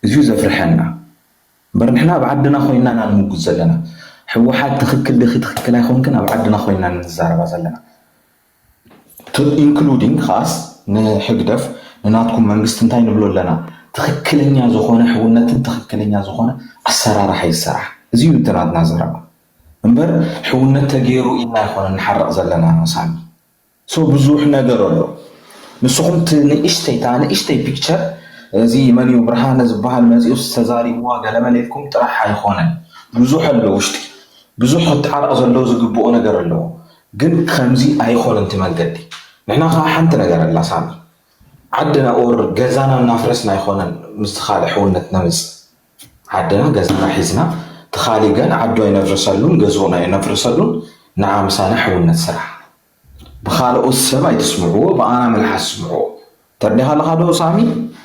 እዚዩ ዘፍርሐና እምበር ንሕና ኣብ ዓድና ኮይና ኢና ንምጉት ዘለና ሕወሓት ትኽክል ዲኺ ትኽክል ኣይኮንክን ኣብ ዓድና ኮይና ኢና ንዛረባ ዘለና እቱ ኢንክሉዲንግ ከኣስ ንሕግደፍ ንናትኩም መንግስቲ እንታይ ንብሎ ኣለና ትኽክለኛ ዝኾነ ሕውነትን ትኽክለኛ ዝኾነ ኣሰራርሓ ይሰራሕ እዚ እዩ እቲ ናትና ዘረባ እምበር ሕውነት ተገይሩ ኢልና ኣይኮነ ንሓረቕ ዘለና መሳኒ ሶ ብዙሕ ነገር ኣሎ ንስኹም እቲ ንእሽተይ እታ ንእሽተይ ፒክቸር እዚ መን እዩ ብርሃነ ዝበሃል መፂኡስ ተዛሪብዋ ገለመለ ኢልኩም ጥራሕ ኣይኾነን ብዙሕ ኣሎ ውሽጢ ብዙሕ ክተዓረቕ ዘለዎ ዝግብኦ ነገር ኣለዎ ግን ኸምዚ ኣይኾነን እቲ መንገዲ ንሕና ኸኣ ሓንቲ ነገር ኣላ ሳሚ ዓድና ኦር ገዛና እናፍረስና ኣይኾነን ምስቲ ኻልእ ሕውነት ነምጽእ ዓድና ገዛና ሒዝና እቲ ኻልእ ገን ዓዱ ኣይነፍርሰሉን ገዝኡን ኣይነፍርሰሉን ንዓ ምሳና ሕውነት ስራሕ ብኻልኦት ሰብ ኣይትስምዕዎ ብኣና መልሓስ ስምዕዎ። ተርዲኻለኻ ዶ ሳሚ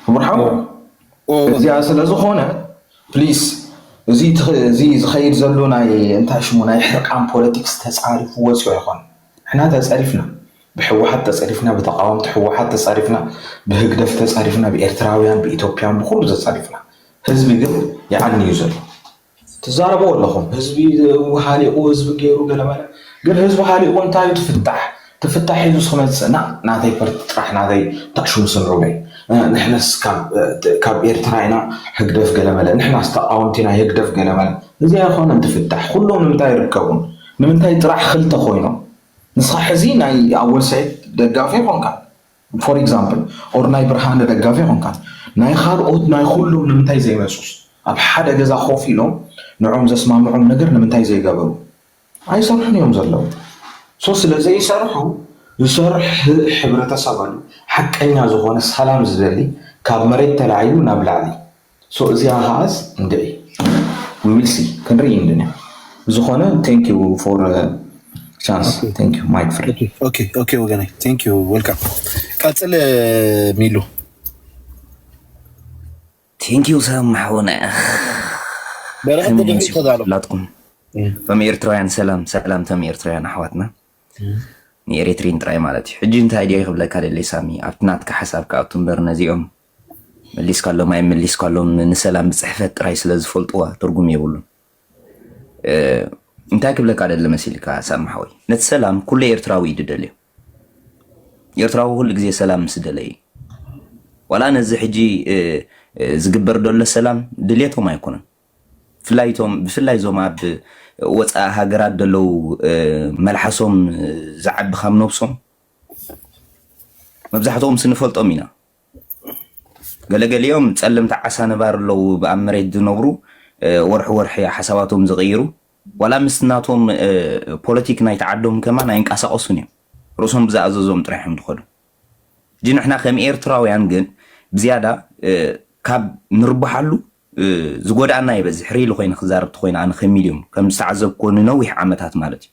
ክቡር ሓው እዚኣ ስለ ዝኾነ ፕሊስ እዚ ዝኸይድ ዘሎ ናይ እንታይ ሽሙ ናይ ሕርቃን ፖለቲክስ ተጻሪፉ ወጺኦ ይኾን ንሕና ተጸሪፍና ብሕወሓት ተጸሪፍና ብተቃወምቲ ሕወሓት ተጸሪፍና ብህግደፍ ተጸሪፍና ብኤርትራውያን ብኢትዮጵያን ብኩሉ ተጸሪፍና ህዝቢ ግን ይዓኒ እዩ ዘሎ ትዛረቡ ኣለኹም ህዝቢ ሃሊቁ ህዝቢ ገይሩ ገለ መለ ግን ህዝቢ ሃሊቁ እንታይ እዩ ትፍታሕ ትፍታሕ ሒዙ ስክመፅእ ናእ ናተይ ፐርቲ ጥራሕ ናተይ ታእሹም ስምዑለይ ንሕነስ ካብ ኤርትራ ኢና ህግደፍ ገለ መለ ንሕናስ ተቃወምቲ ናይ ህግደፍ ገለ መለ እዚ ኣይኾነን ትፍታሕ ኩሎም ንምንታይ ኣይርከቡን ንምንታይ ጥራሕ ክልተ ኮይኖም ንስኻ ሕዚ ናይ ኣወል ሰይድ ደጋፊ ኣይኾንካን for example or ናይ ብርሃነ ደጋፊ ኮንካስ ናይ ካልኦት ናይ ኩሎም ንምንታይ ዘይመጹስ ኣብ ሓደ ገዛ ኮፍ ኢሎም ንዕኦም ዘስማምዖም ነገር ንምንታይ ዘይገበሩ ኣይሰርሑን እዮም ዘለዉ so ስለ ዘይሰርሑ ዝሰርሕ ሕብረተሰብ ኣሎ ሓቀኛ ዝኮነ ሰላም ዝደሊ ካብ መሬት ተላዒሉ ናብ ላዕሊ ሶ እዚኣ ከዓስ እንድዒ ዊ ዊል ሲ ክንርኢ እንድንያ ብዝኾነ ቴንክ ዩ ፎር ቻንስ ቴንክ ዩ ማይክ ፍሬ ኦኬ ኦኬ ወገናይ ቴንክ ዩ ወልካም ቀፅል ሚሉ ቴንክ ዩ ሰብ ማሕውነ በረኸት ከመይ ድሕሪ ኣምሲኹም ተዳሎ ኩላትኩም እቶም ኤርትራውያን ሰላም ሰላም እቶም ኤርትራውያን ኣሕዋትና ንኤሬትሪን ጥራይ ማለት እዩ ሕጂ እንታይ ድየ ክብለካ ደለይ ሳሚ ኣብቲ ናትካ ሓሳብ ክኣቱ እምበር ነዚኦም መሊስካሎም ኣይመሊስካሎም ንሰላም ብፅሕፈት ጥራይ ስለ ዝፈልጡዋ ትርጉም የብሉን። እንታይ ክብለካ ደሊ መሲልካ ሳሚ ሓወይ ነቲ ሰላም ኩሉ ኤርትራዊ እዩ ድደልዮ። ኤርትራዊ ኩሉ ግዜ ሰላም ምስ ደለየ እዩ። ዋላ ነዚ ሕጂ ዝግበር ደሎ ሰላም ድሌቶም ኣይኮነን። ብፍላይ እቶም ብፍላይ እዞም ኣብ ወፃኢ ሃገራት ደለው መልሓሶም ዝዓቢ ካብ ነብሶም መብዛሕትኦም ስንፈልጦም ኢና ገለገሊኦም ጸለምቲ ዓሳ ነባሪ ኣለው ኣብ መሬት ዝነብሩ ወርሒ ወርሒ እያ ሓሳባቶም ዝቕይሩ ዋላ ምስ ናቶም ፖለቲክ ናይቲ ዓዶም ከማን ኣይንቀሳቐሱን እዮም ርእሶም ብዝኣዘዞም ጥራሕ እዮም ዝኸዱ እጂ ንሕና ከም ኤርትራውያን ግን ብዝያዳ ካብ ንርብሓሉ ዝጎድኣና ይበዝሕ ሪኢሉ ኮይነ ክዛረብቲ ኮይነ ኣነ ከሚል እዮም ከም ዝተዓዘብኩዎ ንነዊሕ ዓመታት ማለት እዩ